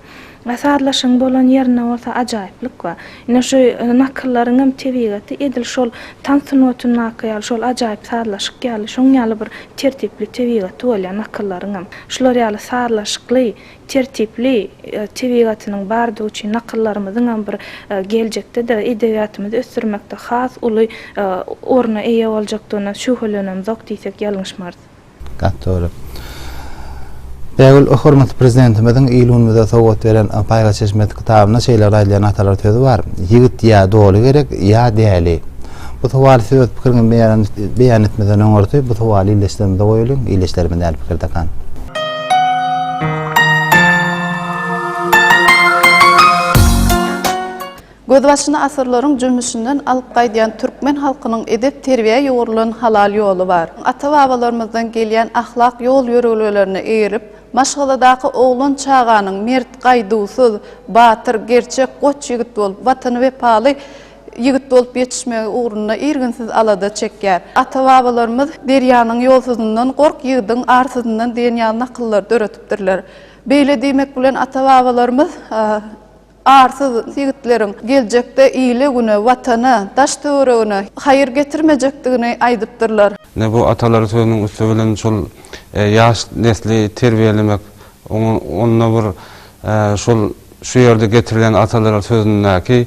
A sazlaşygyň bolan ýerinde bolsa ajaýyplyk bar. Ine şu nakyllaryň hem tebigaty edil şol tans sungatyndaky ýaly, şol ajaýyp sazlaşyk ýaly, şoň ýaly bir tertipli tebigaty bolýar nakyllaryň hem. Şular ýaly sazlaşykly, tertipli tebigatynyň bardygy üçin nakyllarymyzyň hem bir geljekde-de edebiýatymyzy ösdürmekde has uly orna eýe boljakdygyna şübhelenemzok diýsek ýalňyşmarys. Gaty dogry. Bägül hormatly Prezidentimiziň il-günümize sowgat beren Paýhas çeşmesi kitabynda şeýle aýdylýan atalar sözi bar, Ýigit ýa doly gerek, ýa däli. Bu sowaly siz öz pikiriňizi beýan beýan etmeden öňürti bu sowaly ildeşlerimize goýalyň, ildeşlerimiz näl pikirdekan? Gözbaşyny asyrlaryň jümmüşinden alyp gaýdýan türkmen halkynyň edep-terbiýä ýugrulan halal ýoly bar. Ata-babalarymyzdan gelýän ahlak ýol-ýörelgelerine eýerip, maşgaladaky oglan çaganyň mert, gaýduwsyz, batyr, gerçek, goç ýigit bolup, Watana wepaly ýigit bolup ýetişmegi ugrunda irginsiz alada çekýär. Ata-babalarymyz Derýanyň ýolsuzyndan gork, ýigidiň arsuzyndan diýen ýaly nakyllary döretipdirler. Beýle diýmek bilen ata-babalarymyz. Arsyz ýigitleriň geljekde ile-güne, Watana, daş-töweregine haýyr getirmejekdigini aýdypdyrlar. Ine, bu atalar sözüniň üsti bilen şol ýaş nesli terbiýelemek, oňa onda bir şol şu ýerde getirilen atalar sözündäki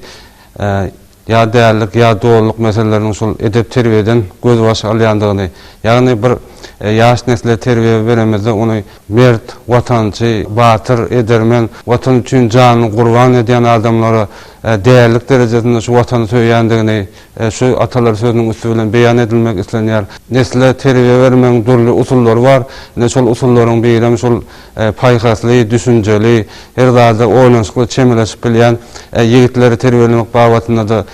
ýa dällik, ýa dolylyk meseleleriniň şol edep-terbiýeden gözbaş alýandygyny, ýagny bir ýaş nesle terbiýe beremizde ony mert, watançy, batyr, edermen, Watan üçin janyny gurban edýän adamlara dällik derejesinde şu Watany söýýändigini şu atalar sözüniň üsti bilen beýan edilmek islenýär. Nesle terbiýe bermegiň dürli usullary bar. Ine, şol usullaryň birem şol paýhasly, düşünjeli, her zada oýlanyşykly çemeleşip bilýän ýigitleri terbiýelemek babatynda-da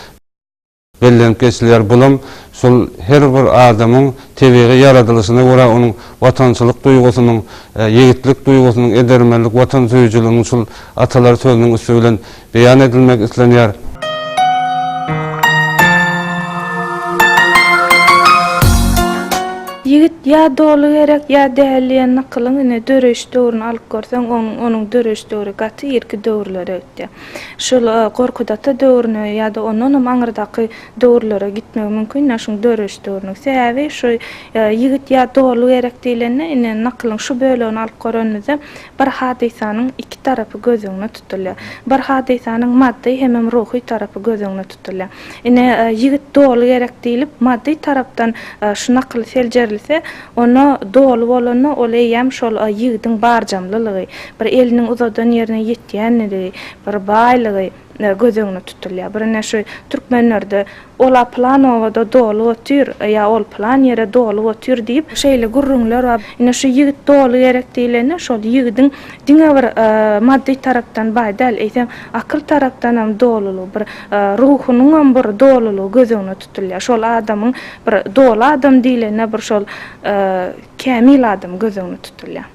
bellenip geçilýär. Bulam şol her bir adamyň tebigy ýaradylyşyna görä onuň watançylyk duýgusynyň, ýigitlik duýgusynyň, edermenlik, watansöýüjiliginiň şol atalar sözüniň üsti bilen beýan edilmek islenýär. Ýigit ýa doly gerek, ýa däl diýen nakylyň ine, döreýiş döwrüni alyp görseň, onuň onuň döreýiş döwri gaty irki döwürlere gitýär. Şol Gorkut ata döwrüne ýa-da ondanam aňyrdaky döwürlere gitmegi mümkin, ine, şuň döreýiş döwrüniň. Sebäbi şu Ýigit ýa doly gerek diýlende, ine, nakylyň şu bölegini alyp görenimizde, Bir hadysanyň iki tarapy göz öňüne tutulýar. Bir hadysanyň maddy hemem ruhy tarapy göz öňüne tutulýar. Ine, ýigit doly gerek diýlip, maddy tarapdan şu nakyl seljerilse, onda doly bolanda ol eýýäm şol ýigidiň barjamlylygy, bir eliniň uzadan ýerine ýetýänliligi, bir baýlygy, göz öňünde tutulýar. Birine şu türkmenlerde Ola pylan obada doly otyr ýa ol pylan ýere doly otyr diýip şeýle gürrüňler bar. Ine şu ýigit doly gerek diýlende şol ýigidiň diňe bir maddy tarapdan baý däl, eýsem akyl tarapdanam dolulygy bir ruhunyňam bir dolulygy göz öňünde tutulýar. Şol adamyň bir doly adam diýlende bir şol kämil adam göz öňünde tutulýar.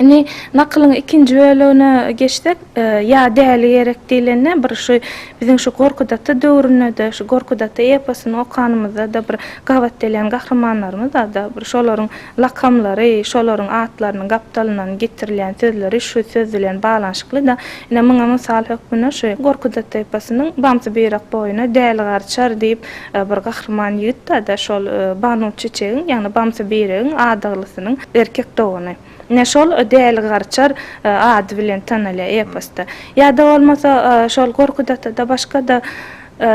Indi nakylyň ikinji bölegine geçsek, ýa däli gerek diýlende, bir şu biziň şu Gorkut-ata döwründe-de, şu Gorkut-ata eposyny okanymyzda-da bir gabat gelýän gahrymanlarymyz bar-da, bir şolaryň lakamlary, şolaryň atlarynyň gapdalyndan getirilýän sözleri şu söz bilen baglanyşykly-da. Ine, muňa mysal hökmünde şu Gorkut-ata eposynyň Bamsy-Byrak boýuna däli garçar diýip, Bir gahryman ýigit bar-da, şol Banu Çiçegiň, ýagny Bamsy Beýregiň adaglysynyň erkek dogany. Ine, şol Däli Garçar ady bilen tanalýar eposda. Ýa-da bolmasa, şol Gorkut ata-da, başga-da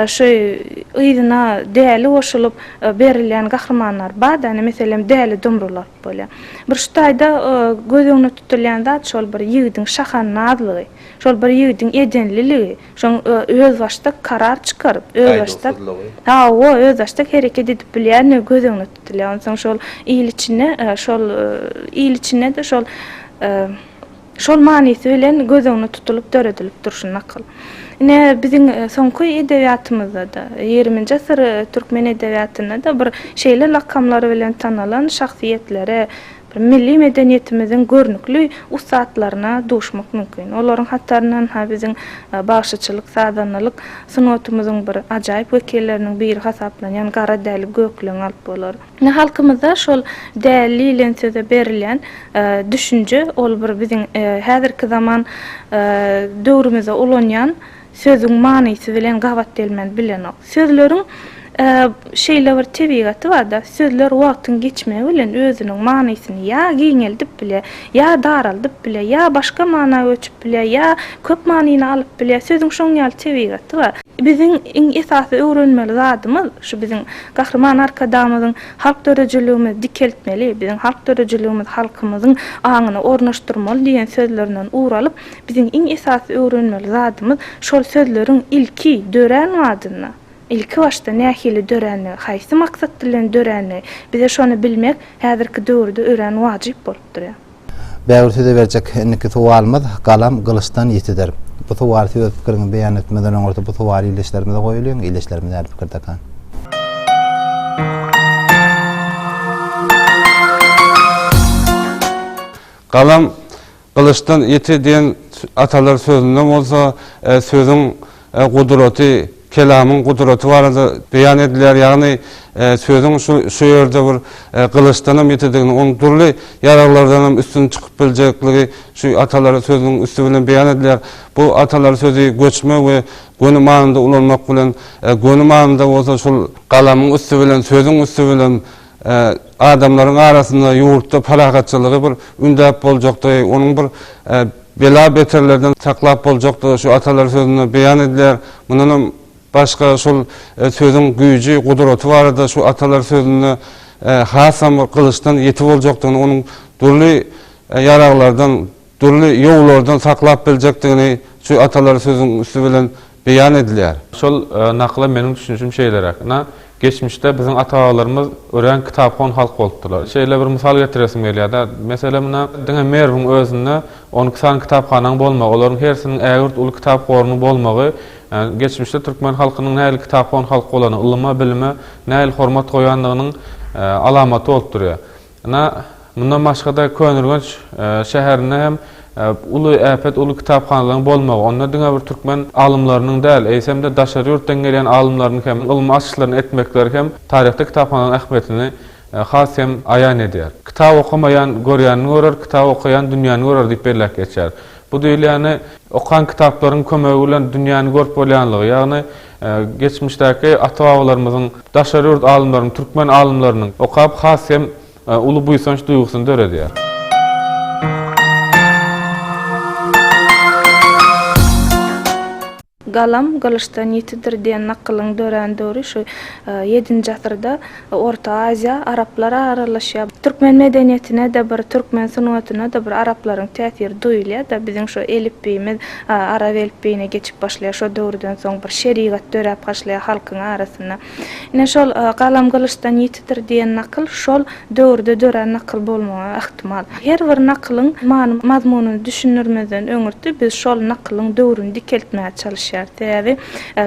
şu yzyna Däli goşulyp berilýän gahrymanlar bar-da, ine, meselem, Däli Dumrulat bolýar. Bir şu taýda göz öňüne tutulýan zat şol bir ýigidiň şahannazlygy, şol bir ýigidiň edenliligi. Şoň özbaşdak karar çykaryp, özbaşdak hawa, özbaşdak hereket edip bilýänligi göz öňüne tutulýar. Onsoň şol il içinde, şol il içinde-de şol şol manysy bilen göz öňüne tutulyp döredilip dur şu nakyl. Ine, biziň soňky edebiýatymyzda-da, ýigriminji asyr türkmen edebiýatynda-da bir şeýle lakamlar bilen tanalan şahsyýetlere, Milli medeniýetimiziň görnükli ussatlaryna duşmak mümkin. Olaryň hataryndan-ha biziň bagşyçylyk, sazandalyk sungatymyzyň bir ajaýyp wekilleriniň biri hasaplanýan Gara Däli Gökleňi alyp bolar. Indi halkymyzda şol däli diýlen söze berilýän düşünje, ol bir biziň häzirki zaman döwrümizde ulanýan Sözüň manysy bilen gabat gelmän bilenok. Sözleriň şeýle bir tebigaty bar-da, sözler wagtyň geçmegi bilen özüniň manysyny ýa giňeldip bile, ýa daraldyp bile, ýa başga mana göçüp bile, ýa köp manyny alyp bile. Sözüň şoň ýaly tebigaty bar. Biziň iň esasy öwrenmeli zadymyz, şu biziň Gahryman Arkadagymyzyň Halk döredijiligimizi dikeltmeli, biziň halk döredijiligimizi halkymyzyň aňyna ornaşdyrmaly diýen sözlerinden ugur alyp, Biziň iň esasy öwrenmeli zadymyz şol sözleriň ilki dörän wagtynda, ilki başda nähili dörändigi, haýsy maksat bilen dörändigi, bize şony bilmek häzirki döwürde örän wajyp bolup durýar. Bägül size berjek indiki sowalymyz Galam gylyçdan ýitidir. Bu sowaly siz öz pikiriňizi beýan etmezden öňürti bu sowaly ildeşlerimize goýulyň, ildeşlerimiz nädip pikirdekan? Galam Gylyçdan ýiti diýen atalar sözünde bolsa sözüň gudraty, kelamyň gudraty barada beýan edilýär. Ýagny sözüň şu ýerde bir gylyçdanam ýitidigini, onuň dürli ýaraglardanam üstün çykyp biljekdigi şu atalar sözüniň üsti bilen beýan edilýär. Bu atalar sözi göçme we göni manyda ulanmak bilen, göni manyda bolsa şol galamyň üsti bilen, sözüň üsti bilen, Adamlaryň arasynda ýurtda parahatçylygy bir ündäp boljakdygy, onuň bir bela-beterlerden saklap boljakdygy şu atalar sözünde beýan edilýär. Mundan hem başga şol sözüň güýji, gudraty barada şu atalar sözünde hasam bir gylyçdan ýiti boljakdygyny, onuň dürli ýaraglardan, Dürli ýowlardan saklap biljekdigini şu atalar sözüň üsti bilen beýan edilýär. Şol nakyla meniň düşünişim şeýleräk. Ynha, geçmişde biziň ata-babalarymyz örän kitaphon halk bolupdyrlar. Şeýle bir mysal getiresim gelýär-de, meselem, ynha, diňe Merwiň özünde on iki sany kitaphanaň bolmagy, olaryň hersiniň ägirt uly kitap gorunyň bolmagy, geçmişde türkmen halkynyň nähili kitaphon halk bolany, ylyma, bilime nähili hormat goýandygynyň alamaty bolup durýar. Ynha, mundan başga-da Köneürgenç şäherinde hem uly äpet, uly kitaphanalaryň bolmagy, onda diňe bir türkmen alymlarynyň däl, eýsem-de daşary ýurtdan gelýän alymlaryň hem ylmy açyşlaryny etmekleri hem taryhda kitaphanalaryň ähmiýetini has hem aýan edýär. Kitap okamaýan görýänini görer, kitap okaýan dünýäni görer diýip belläp geçýär. Bu diýilýäni, okan kitaplaryň kömegi bilen dünýäni görüp bolýanlygy, ýagny, Geçmişdäki ata-babalarymyzyň, daşary ýurt alymlarynyň, türkmen alymlarynyň okap has hem uly buýsanç duýgusyny döredýär. Galam gylyçdan ýitidir diýen nakylyň dörän döwri şu ýedinji asyrda Orta Aziýa, araplar aralaşýa. Türkmen medeniýetine-de bir, türkmen sungatyna-da bir araplaryň täsiri duýulýa-da. Biziň şu elipbiýimiz arap elipbiýine geçip başlaýa. Şo döwürden soň bir şerigat döräp haşlaýa halkyň arasynda. Ine, şol Galam gylyçdan ýitidir diýen nakyl şol döwürde dörän nakyl bolmagy ähtimal. Her bir nakylyň many-mazmunyny düşündirmezden öňürti biz şol nakylyň döwrüni dikeltmäge çalyşýarys. Sebäbi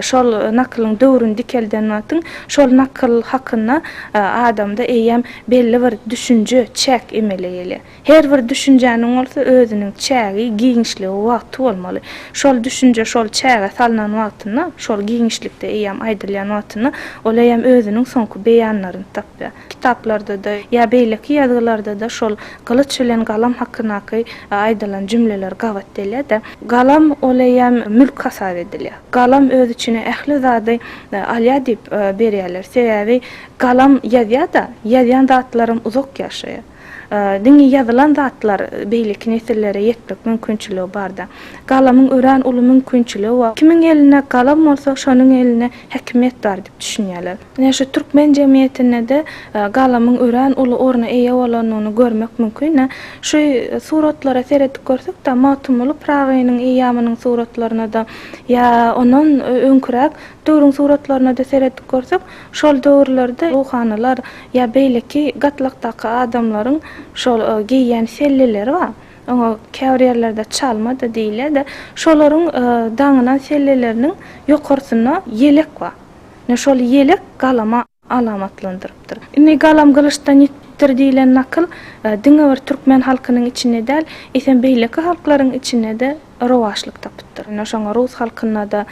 şol nakylyň döwrüni dikelden wagtyň Şol nakyl hakynda adamda eýýäm belli bir düşünje, çäk emele gelýär. Her bir düşünjäniň bolsa özüniň çägi, giňişligi, wagty bolmaly. Şol düşünje şol çäge salnan wagtynda, şol giňişlikde eýýäm aýdylýan wagtynda ol eýýäm özüniň soňky beýanlaryny tapýar. Kitaplarda-da, ýa beýleki ýazgylarda-da şol gylyç bilen galam hakyndaky aýdylan jümleler gabat gelýär-de. Galam ol eýýäm mülk hasap edilýär. Galam öz içine ähli zady alýar diýip berýärler. Sebäbi galam ýazýar-da, ýazýan zatlaram uzak ýaşaýar. Diňe ýazylan zatlar beýleki nesillere ýetmek mümkinçiligi barda. Galamyň örän uly mümkinçiligi bar. Kimiň elinde galam bolsa, şonuň elinde häkimiýet bar diýip düşünýärler. Ine şu türkmen jemgyýetinde-de galamyň örän uly orna eýe bolandygyny görmek mümkin. Ine şu suratlara seredip görsek-de, Magtymguly Pyragynyň eýýamynyň suratlaryna-da ýa ondan öňküräk döwrüň suratlaryna-da seredip görsek, şol döwürlerde ruhanylar ýa beýleki gatlakdaky adamlaryň şol geýýän selleleri bar. Oňa käbir ýerlerde çalma-da diýilýär-de, şolaryň daňynan selleleriniň ýokarsynda ýelek bar. Ine şol ýelek galama alamatlandyrypdyr. Indi Galam gylyçdan ýitipdir diýlen nakyl diňe bir türkmen halkynyň içinde däl, eýsem beýleki halklaryň içinde-de rowaçlyk tapypdyr. Ine şoňa rus halkynda-da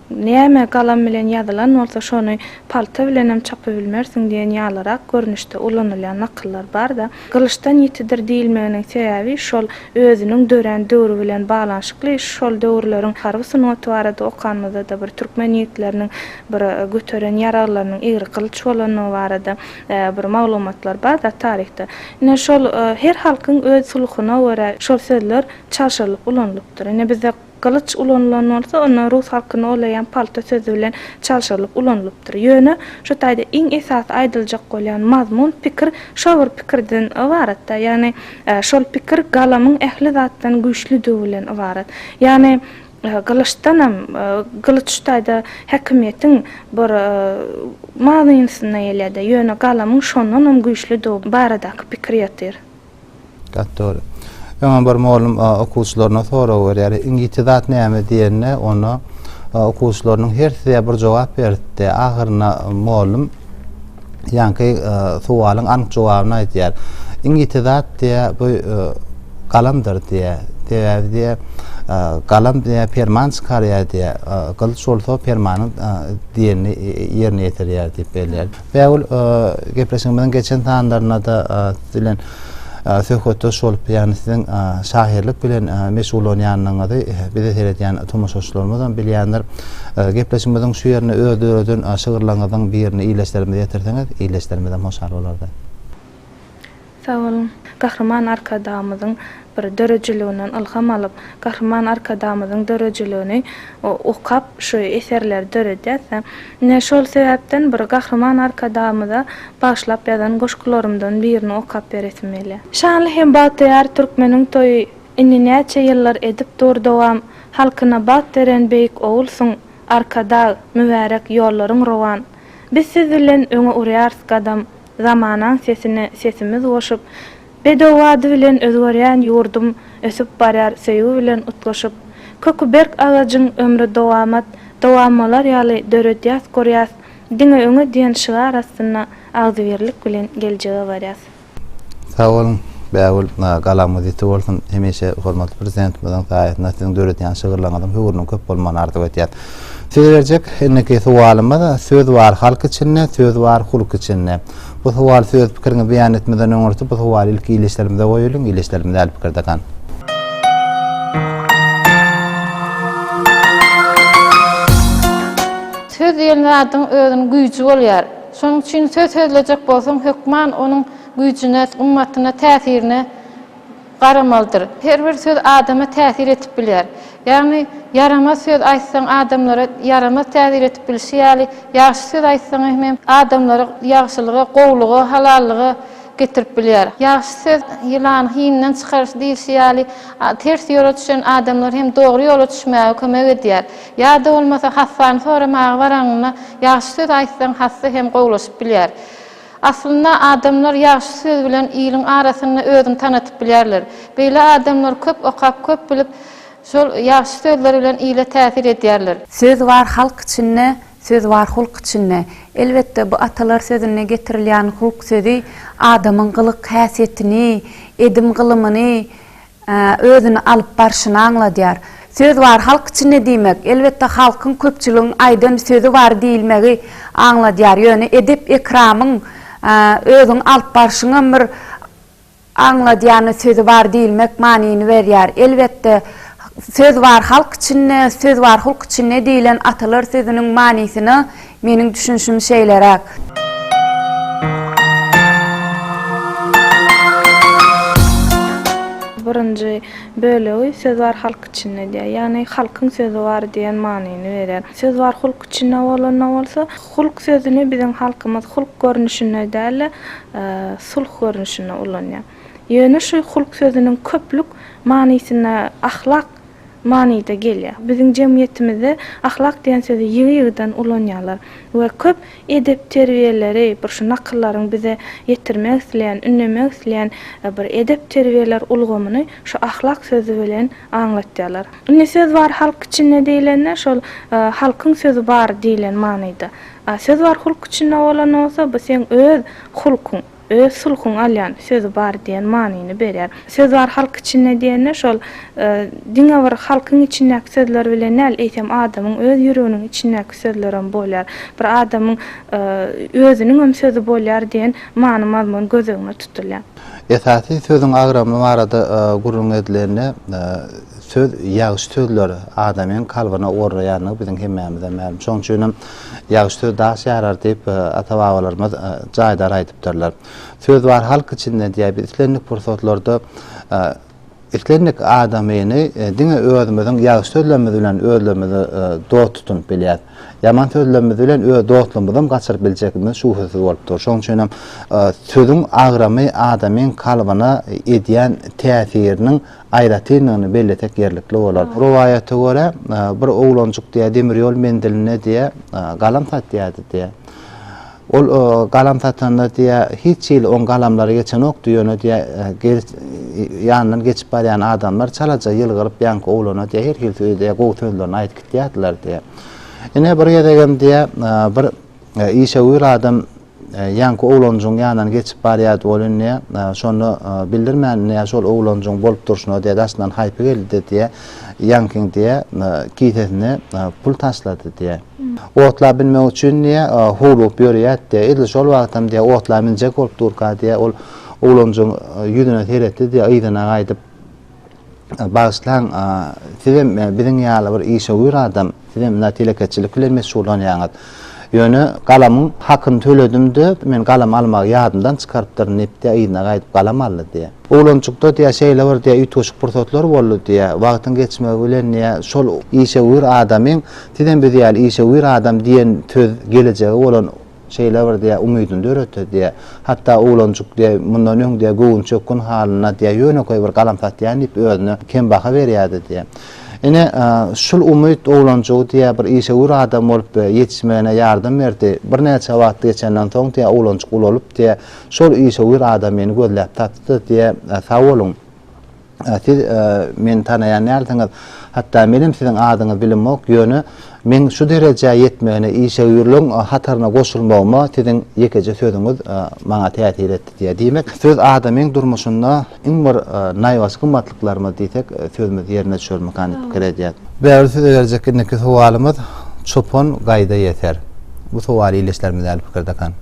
näme galam bilen ýazylan bolsa şony palta bilenem çapybilmersiň diýen ýalyrak görnüşde ulanylýan nakyllar bar-da. Gylyçdan ýitidir diýilmeginiň sebäbi şol özüniň dörän döwri bilen baglanyşykly. Şol döwürleriň harby sungaty barada okanymyzda-da bir türkmen ýigitleriniň bir göteren ýaraglarynyň egri gylyç bolandygy barada bir maglumatlar bar-da taryhda. Ine şol her halkyň öz sulhusyna görä şol sözler çalşyrylyp ulanylypdyr. Ine bizde. Gylyç ulanylan bolsa, onda rus halkynda olaýan palta sözi bilen çalşyrylyp ulanylypdyr. Ýöne, şu taýda iň esasy aýdyljak bolýan mazmun, pikir şo bir pikirden ybarat-da, ýagny şol pikir galamyň ähli zatdan güýçlüdigi bilen ybarat. Ýagny, gylyçdanam, gylyç şu taýda häkimiýetiň bir manysyna gelýär-de, ýöne galamyň şondanam güýçlüdigi baradaky pikir ýatyr. Gaty dogry. Öňem bir mugallym okuwçylaryna sorag berýär. Iň ýiti zat näme diýende, onda okuwçylarynyň hersi bir jogap beripdi. Ahyrynda mugallym ýaňky suwalyň anyk jogabyny aýdýar. Iň ýiti zat diýä bu galamdyr diýä. Sebäbi diýä galam diýä perman çykarýar diýä. Gylyç bolsa permanyň diýenini ýerine ýetirýär diýip belleýär. Bägül, gepleşigimiziň geçen sanlarynda-da siz bilen söhbetdeş bolup, ýagny siziň şahyrlyk bilen meşgullanýanyňyzy bizi seredýän tomaşaçylarymyzam bilýändir. Gepleşigimiziň şu ýerine öz döreden şygyrlaryňyzyň birini iýleşlerimize ýetirseňiz, iýleşlerimiz hem hoşal bolardy. Sag boluň. Gahryman Arkadagymyzyň bir döredijiliginden ylham alyp, Gahryman Arkadagymyzyň döredijiligini okap şu eserleri döredýäs-de. Ine şol sebäpden bir Gahryman Arkadagymyza bagyşlap ýazan goşgularymdan birini okap beresim gelýär. Şanly hem bagtyýar türkmeniň toýy Indi näçe ýyllar edip dur dowam Halkyna bagt beren beýik ogulsyň, Arkadag! Mübärek ýollaryň rowan Biz siz bilen öňe urýarys gadam Zamanaň sesine sesimiz goşup, Bedew ady bilen özgerýän ýurdum Ösüp barýar söýgi bilen utgaşyp. Köki berk agajyň ömri dowamat, Dowam bolar ýaly döredýäs, gurýas, Diňe öňe diýen şygar astynda Agzybirlik bilen geljege barýas. Sag boluň Bägül, galamyz ýiti bolsun, hemişe hormatly Prezidentimiziň saýasynda siziň döredýän şygyrlaryňyzyň höwrüniň köp bolmagyny arzuw etýäs. Siz berjek indiki sowalymyz Söz bar halk içinde, söz bar hulk içinde. Bu sowal söz pikiriňi beýan etmeden öňürti bu sowaly ilki ildeşlerimize goýalyň, ildeşlerimiz däl pikir dakan. Söz diýen zadyň özüniň güýji bolýar. Şonuň üçin söz sözlejek bolsaň hökman onuň güýjüne, gymmatyna, täsirine garamalydyr. Her bir söz adama täsir etip bilýär. Ýagny, ýaramaz söz aýtsaň adamlara ýaramaz täsir etip bilşi ýaly, ýagşy söz aýtsaň hemem adamlary ýagşylyga, gowulyga, halallyga getirip bilýär. Ýagşy söz ýylany hiňden çykaryş diýilşi ýaly, ters ýola düşen adamlar hem dogry ýola düşmäge kömek edýär. Ýa-da bolmasa hassany soramaga baraňyňda ýagşy söz aýtsaň hassa hem gowulaşyp bilýär. Aslynda adamlar ýagşy söz bilen iliň arasynda özüni tanatyp bilýärler. Beýle adamlar köp okap, köp bilip, şol ýagşy sözleri bilen ile täsir edýärler. Söz bar halk içinde, söz bar hulk içinde. Elbetde, bu atalar sözünde getirilýän hulk sözi adamyň gylyk-häsiýetini, edim-gylymyny özüni alyp barşyny aňladýar. Söz bar halk içinde diýmek, elbetde, halkyň, köpçüligiň aýdan sözi bar diýilmegi aňladýar. Ýöne edep-ekramyň, özüňi alyp barşyňam bir aňladýany sözi bar diýilmek manyny berýär. Elbetde, söz bar halk içinde, söz bar hulk içinde diýlen atalar sözüniň manysyna Meniň düşünişim şeýleräk. Birinji bölegi söz bar halk içinde diýýär. Ýagny halkyň sözi bar diýen manyny berýär. Söz bar hulk içinde bolanda bolsa, hulk sözüni biziň halkymyz hulk görnüşinde däl-de, sulh görnüşinde ulanýar. Ýöne şu hulk sözüniň köplük manysyna ahlak manyda gelýär. Biziň jemgyýetimizde ahlak diýen sözi ýygy-ýygydan ulanýarlar we köp edep-terbiýeleri, bir şu nakyllaryň bize ýetirmek isleýän, ündemek isleýän bir edep-terbiýeler ulgamyny şu ahlak sözi bilen aňlatýarlar. Indi söz bar halk içinde diýlende, şol halkyň sözi bar diýlen manyda. A söz bar hulk içinde bolan bolsa, bu seň öz hulkuň. Öz sulhuň alýan sözi bar diýen manyny berýär. Söz bar halk içinde diýende şol diňe bir halkyň içindäki sözler bilen däl, eýsem adamyň öz ýüreginiň içindäki sözlerem bolýar. Bir adamyň özüniňem sözi bolýar diýen many-mazmun göz öňüne tutulýar. Esasy sözüň agramy barada gürrüň edilende, söz ýagşy sözler adamyň kalbyna ornaýandygy biziň hemmämize mälim. Şonuň üçin hem Ýagy söz daş ýarar diýip, ata-babalarymyz jaýdar aýdypdyrlar. Söz bar halk içinde diýýär, biz islendik pursatlarda islendik adamyny diňe özümiziň ýagşy sözlerimiz bilen özlerimizi dost tutunyp bilýäs. Ýaman sözlerimiz bilen öz dostlugymyzam gaçyryp biljekdigimiz şübhesiz bolup dur. Şonuň üçin hem sözüň agramy adamyň kalbyna edýän täsiriniň aýratynlygyny bellesek ýerlikli bolar. Rowaýata görä, bir oglanjyk diýýär, demir ýol menzilinde diýýär, galam satýardy diýýär. Ol galam satanda diýýär, hiç hili oň galamlary geçenokdy, ýöne diýýär, ýanyndan geçip barýan adamlar çalaja ýylgyryp ýaňky oglana diýýär, her hili sözi diýýär, gowy sözlerini aýdyp gitýärdiler diýýär. Ine, bir gezegem diýýär, bir işewür adam Ýaňky oglanjygyň ýanyndan geçip barýardy, ol indi şony bildirmän, indi şol oglanjygyň bolup durşuna diýe daşyndan haýpy geldi-de diýe, ýaňkyň diýe kisesine pul taşlady diýe. Otla binmek üçin diýe howlugyp ýörýärdi diýe, edil şol wagtam diýe otla minjek bolup durka diýe ol oglanjygyň ýüzüne seretdi diýe, yzyna gaýdyp. Bagyşlaň, sizem biziň ýaly bir işewür adam, sizem munday telekeçilik bilen meşgullanýaňyz. Ýöne galamyň hakyny töledim-de, men galam almagy ýadymdan çykarypdyryn diýip, yzyna gaýdyp galam aldy. Oglanjykda şeýle bir üýtgeşik pursatlar boldy. Wagtyň geçmegi bilen şol işewür adamyň sizem biz ýaly işewür adam diýen söz gelejege bolan şeýle bir diýýär, umydyny döretdi diýýär. Hatda oglanjyk diýýär, mundan öň diýýär, göwünçökgün halynda diýýär, ýönekeý bir galam satýan diýip özüne kem baha berýärdi diýýär. Ine, şul umyt oglanjygy diýýär, bir işewür adam bolup ýetişmegine ýardam berdi. Birnäçe wagt geçenden soň diýýär, oglanjyk ulalyp diýýär, şol işewür adam meni gözläp tapdy-da diýýär, Sag boluň! Siz meni tanaýan dälsiňiz. Hatda menem siziň adyňyzy bilemok, ýöne meň şu derejä ýetmegine, işewürligiň hataryna goşulmagyma siziň ýekeje sözüňiz maňa täsir etdi diýýär. Diýmek, söz adamyň durmuşynda iň bir naýbaşy gymmatlyklarymyz diýsek, sözümiz ýerine düşermikä diýip pikir edýän. Bägül size berjek indiki sowalymyz Çopan gaýda ýeter? Bu sowaly ildeşlerimiz däl pikir dakan.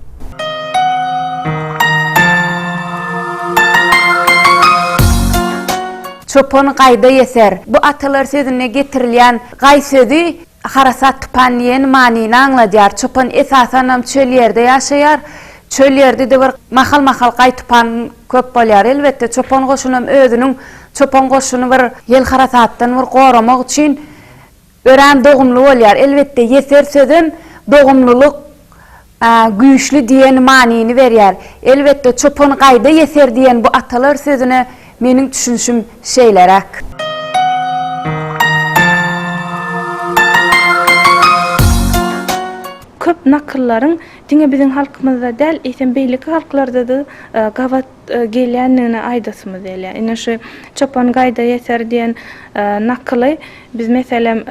Çopan gaýda ýeter? Bu atalar sözünde getirilýän gaý sözi harasat tupan diýen manyny aňladýar. Çopan esasanam çöl ýerde ýaşaýar. Çöl ýerdide bir mahal-mahal gaý tupan köp bolýar. Elbetde, çopan goşunam özüniň çopan goşuny bir ýel harasatdan bir goramak üçin örän dogumly bolýar. Elbetde, ýeser sözem dogumlylyk güýçli diýen manyny berýär. Elbetde, çopan gaýda ýeser diýen bu atalar sözüne meniň düşünişim şeýleräk. Köp nakyllaryň Diňe biziň halkymyzda däl, eýsem beýleki halklarda-da gabat gelýändigini aýdasymyz gelýär. Ine şu Çopan gaýda ýeter diýen nakyly biz meselem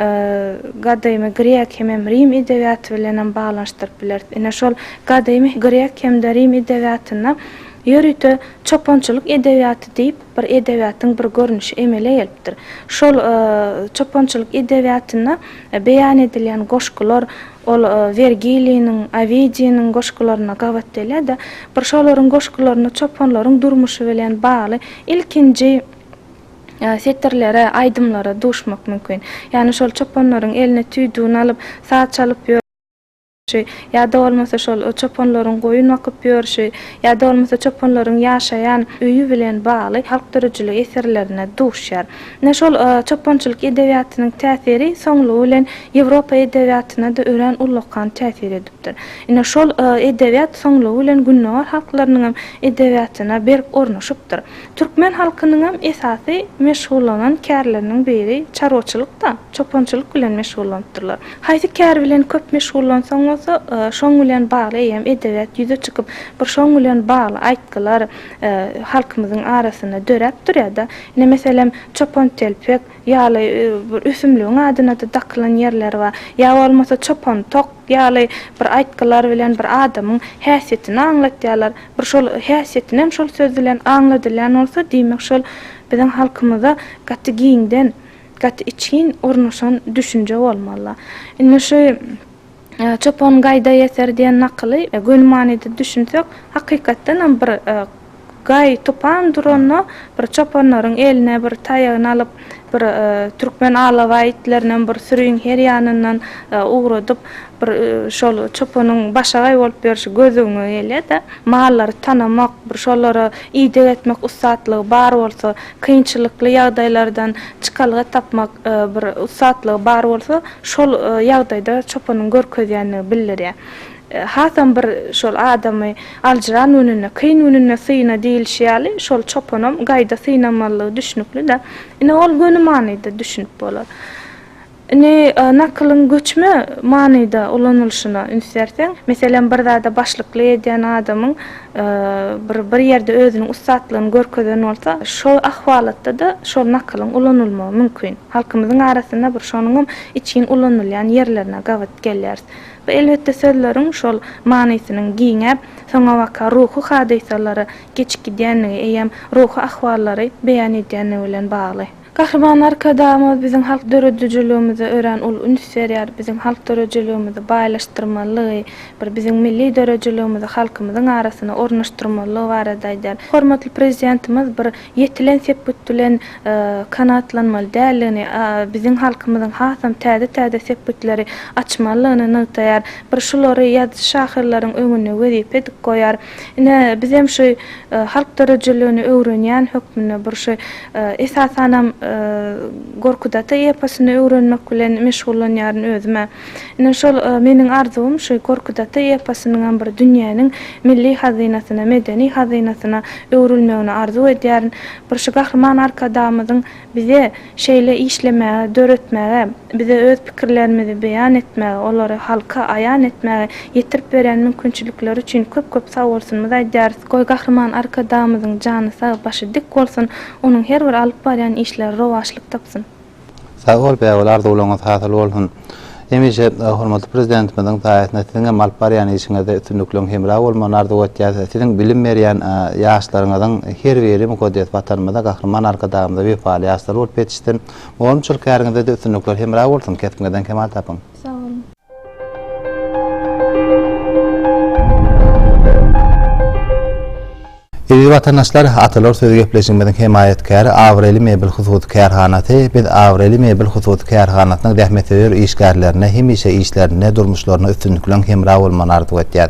gadymy grek hemem rim edebiýaty bilenem baglanyşdyryp bileris. Ine şol gadymy grek hem-de rim edebiýatynda ýörite çopançylyk edebiýaty diýip bir edebiýatyň bir görnüşi emele gelipdir. Şol çopançylyk edebiýatynda beýan edilýän goşgular, Ol Wergiliniň, Owidiýniň goşgularyna gabat gelýär-de, bir şolaryň goşgularyny çopanlaryň durmuşy bilen bagly ilkinji setirlere, aýdymlara duşmak mümkin. Ýagny şol çopanlaryň eline tüýdügini alyp, saz çalyp ýörşi ýa-da bolmasa şol çopanlaryň goýun bakyp ýörşi ýa-da bolmasa çopanlaryň ýaşaýan öýi bilen bagly halk döredijilik eserlerine duşýar. Ine şol çopançylyk edebiýatynyň täsiri soňlugy bilen Ýewropa edebiýatyna-da örän ullakan täsir edipdir. Ine şol edebiýat soňlugy bilen Gündogar halklarynyň hem edebiýatyna berk ornaşypdyr. Türkmen halkynyň hem esasy meşgullanan kärleriniň biri çarwaçylyk-da, çopançylyk bilen meşgullanypdyrlar. Haýsy kär bilen köp meşgullansaň bolsa, şoň bilen bagly eýýäm edebiýat ýüze çykyp, bir şoň bilen bagly aýtgylar halkymyzyň arasynda döräp durýar-da. Ine, meselem, çopantelpek ýaly bir ösümligiň adyna-da dakylan ýerleri bar. Ýa bolmasa çopantok ýaly bir aýtgylar bilen bir adamyň häsiýetini aňlatýarlar. Bir şol häsiýetinem şol söz bilen aňladylýan bolsa, diýmek şol biziň halkymyza gaty giňden, gaty içgin ornaşan düşünje bolmaly. Indi şu. Çopan gaýda ýeter diýen nakyly göni manyda düşünsek, hakykatdan hem bir gaý tupan duranda bir çopanlaryň eline bir taýagyny alyp, bir türkmen alabaý itlerinem bir süriň her ýanyndan ugradyp, bir şol çopanyň başagaý bolup ýörşi gözüňe gelýä-de, mallary tanamak, bir şolara ideg etmek ussatlygy bar bolsa, Kynçylykly ýagdaýlardan çykalga tapmak bir ussatlygy bar bolsa, şol ýagdaýda çopanyň görkezýändigi bildirýär. Hasam bir şol adamy aljyran gününde, kyn gününde syna diýlişi ýaly, şol çopanam gaýda synamalydygy düşnükli-dä. Ine, ol göni manyda düşünip bolar. Indi nakylyň göçme manyda ulanylyşyna üns berseň, meselem, bir zada başlyklyk edýän adamyň bir bir ýerde özüniň ussatlygyny görkezen bolsa, şol ahwalatda-da şol nakylyň ulanylmagy mümkin. Halkymyzyň arasynda bir şonuňam içgin ulanylýan ýerlerine gabat gelýäris. Bu, elbetde, sözleriň şol manysynyň giňäp, soňabaka ruhy hadysalary geçip gidýändigi eýýäm ruhy ahwallary beýan edýändigi bilen bagly. Gahryman Arkadagymyz biziň halk döredijiligimize örän uly üns berýär, biziň halk döredijiligimizi baýlaşdyrmalydygy, bir biziň milli döredijiligimizi halkymyzyň arasyna ornaşdyrmalydygy barada aýdýar. Hormatly Prezidentimiz bir ýetilen sepgit bilen kanagatlanmaly däldigini, biziň halkymyzyň hasam täze-täze sepgitleri açmalydygyny nygtaýar, bir şulary ýazyjy-şahyrlaryň öňünde wezipe edip goýar. Ine, bizem şu halk döredijiligini öwrenýän hökmünde bir şu esasanam Gorkut ata eposyny öwrenmek bilen meşgullanýaryn özüm-ä. Ine, şol meniň arzuwym şu Gorkut ata eposynyňam bir dünýäniň milli hazynasyna, medeni hazynasyna öwrülmegini arzuw edýärin. Bir şu Gahryman Arkadagymyzyň Bize şeýle işlemäge, döretmäge, bize öz pikirlerimizi beýan etmäge, olary halka aýan etmäge ýetirip berýän mümkinçilikleri üçin köp-köp sagbolsunmyz aýdýarys. Goý, Gahryman Arkadagymyzyň jany sag, başy dik bolsun, onuň her bir alyp barýan işleri rowaçlyk tapsyn! Sag bol, bägül, arzuwlaryňyz hasyl bolsun! Hemişe hormatly Prezidentimiziň saýasynda siziň hem alyp barýan işiňizde üstünlikleriň hemra bolmagyny arzuw etýäs. Siziň bilim berýän ýaşlaryňyzyň her biri mukaddes Watanymyza, Gahryman Arkadagymyza wepaly ýaşlar bolup ýetişsin. Mugallymçylyk käriňizde-de üstünlikler hemra bolsun, kesbiňizden kemal tapyň! Sag boluň! Eziz watandaşlar, Atalar sözi gepleşigimiziň hemaýatkäri Abraýly mebel hususy kärhanasy, biz Abraýly mebel hususy kärhanasynyň zähmetsöýer işgärlerine hemişe işlerinde, durmuşlarynda üstünlik bilen hemra bolmagyny arzuw etýäs.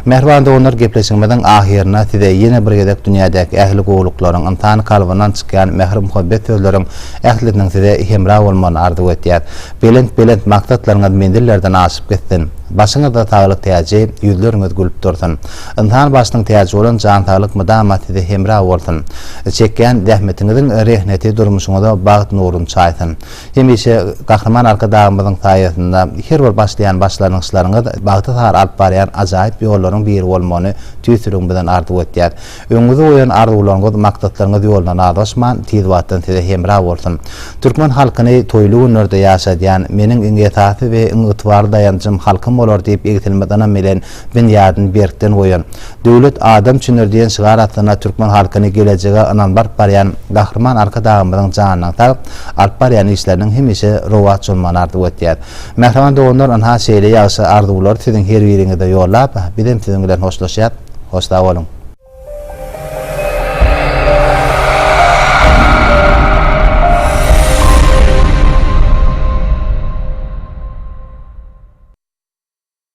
Mähriban doganlar, gepleşigimiziň ahyryna size ýene bir gezek dünýädäki ähli gowulyklaryň, ynsan kalbyndan çykýan mähir-muhabbet sözleriň ählisiniň size hemra bolmagyny arzuw etýäs. Belent-belent maksatlaryňyz menzillerden aşyp gitsin! Başyňyzda saglyk täji, ýüzleriňiz gülüp dursun. Ynsan başynyň täji bolan jan saglyk mydama size hemra bolsun. Çekýän zähmetiňiziň rehneti durmuşyňyza bagt nuruny çaýsyn. Hemişe Gahryman Arkadagymyzyň saýasynda her bir başlaýan başlangyçlaryňyz bagta sary alyp barýan ajaýyp ýollaryň biri bolmagyny tüýs ýüregimizden arzuw etýäs. Öňüňizde goýan arzuwlaryňyz, maksatlaryňyz ýolundan azaşman, tiz wagtdan size hemra bolsun! Türkmen halkyny toýly günlerde ýaşadýan, Meniň iň esasy we iň ygtybarly daýanjym halkym bolar diýip egsilmez ynam bilen binýadyny berkden goýan, Döwlet adam üçindir diýen şygar astynda türkmen halkyny gelejege ynamly alyp barýan Gahryman Arkadagymyzyň janynyň sag, alyp barýan işleriniň hemişe rowaç bolmagyny arzuw etýär. Mähriban doganlar, ynha şeýle ýagşy arzuwlary siziň her biriňize ýollap, bizem siziň bilen hoşlaşýas. Hoş sag boluň.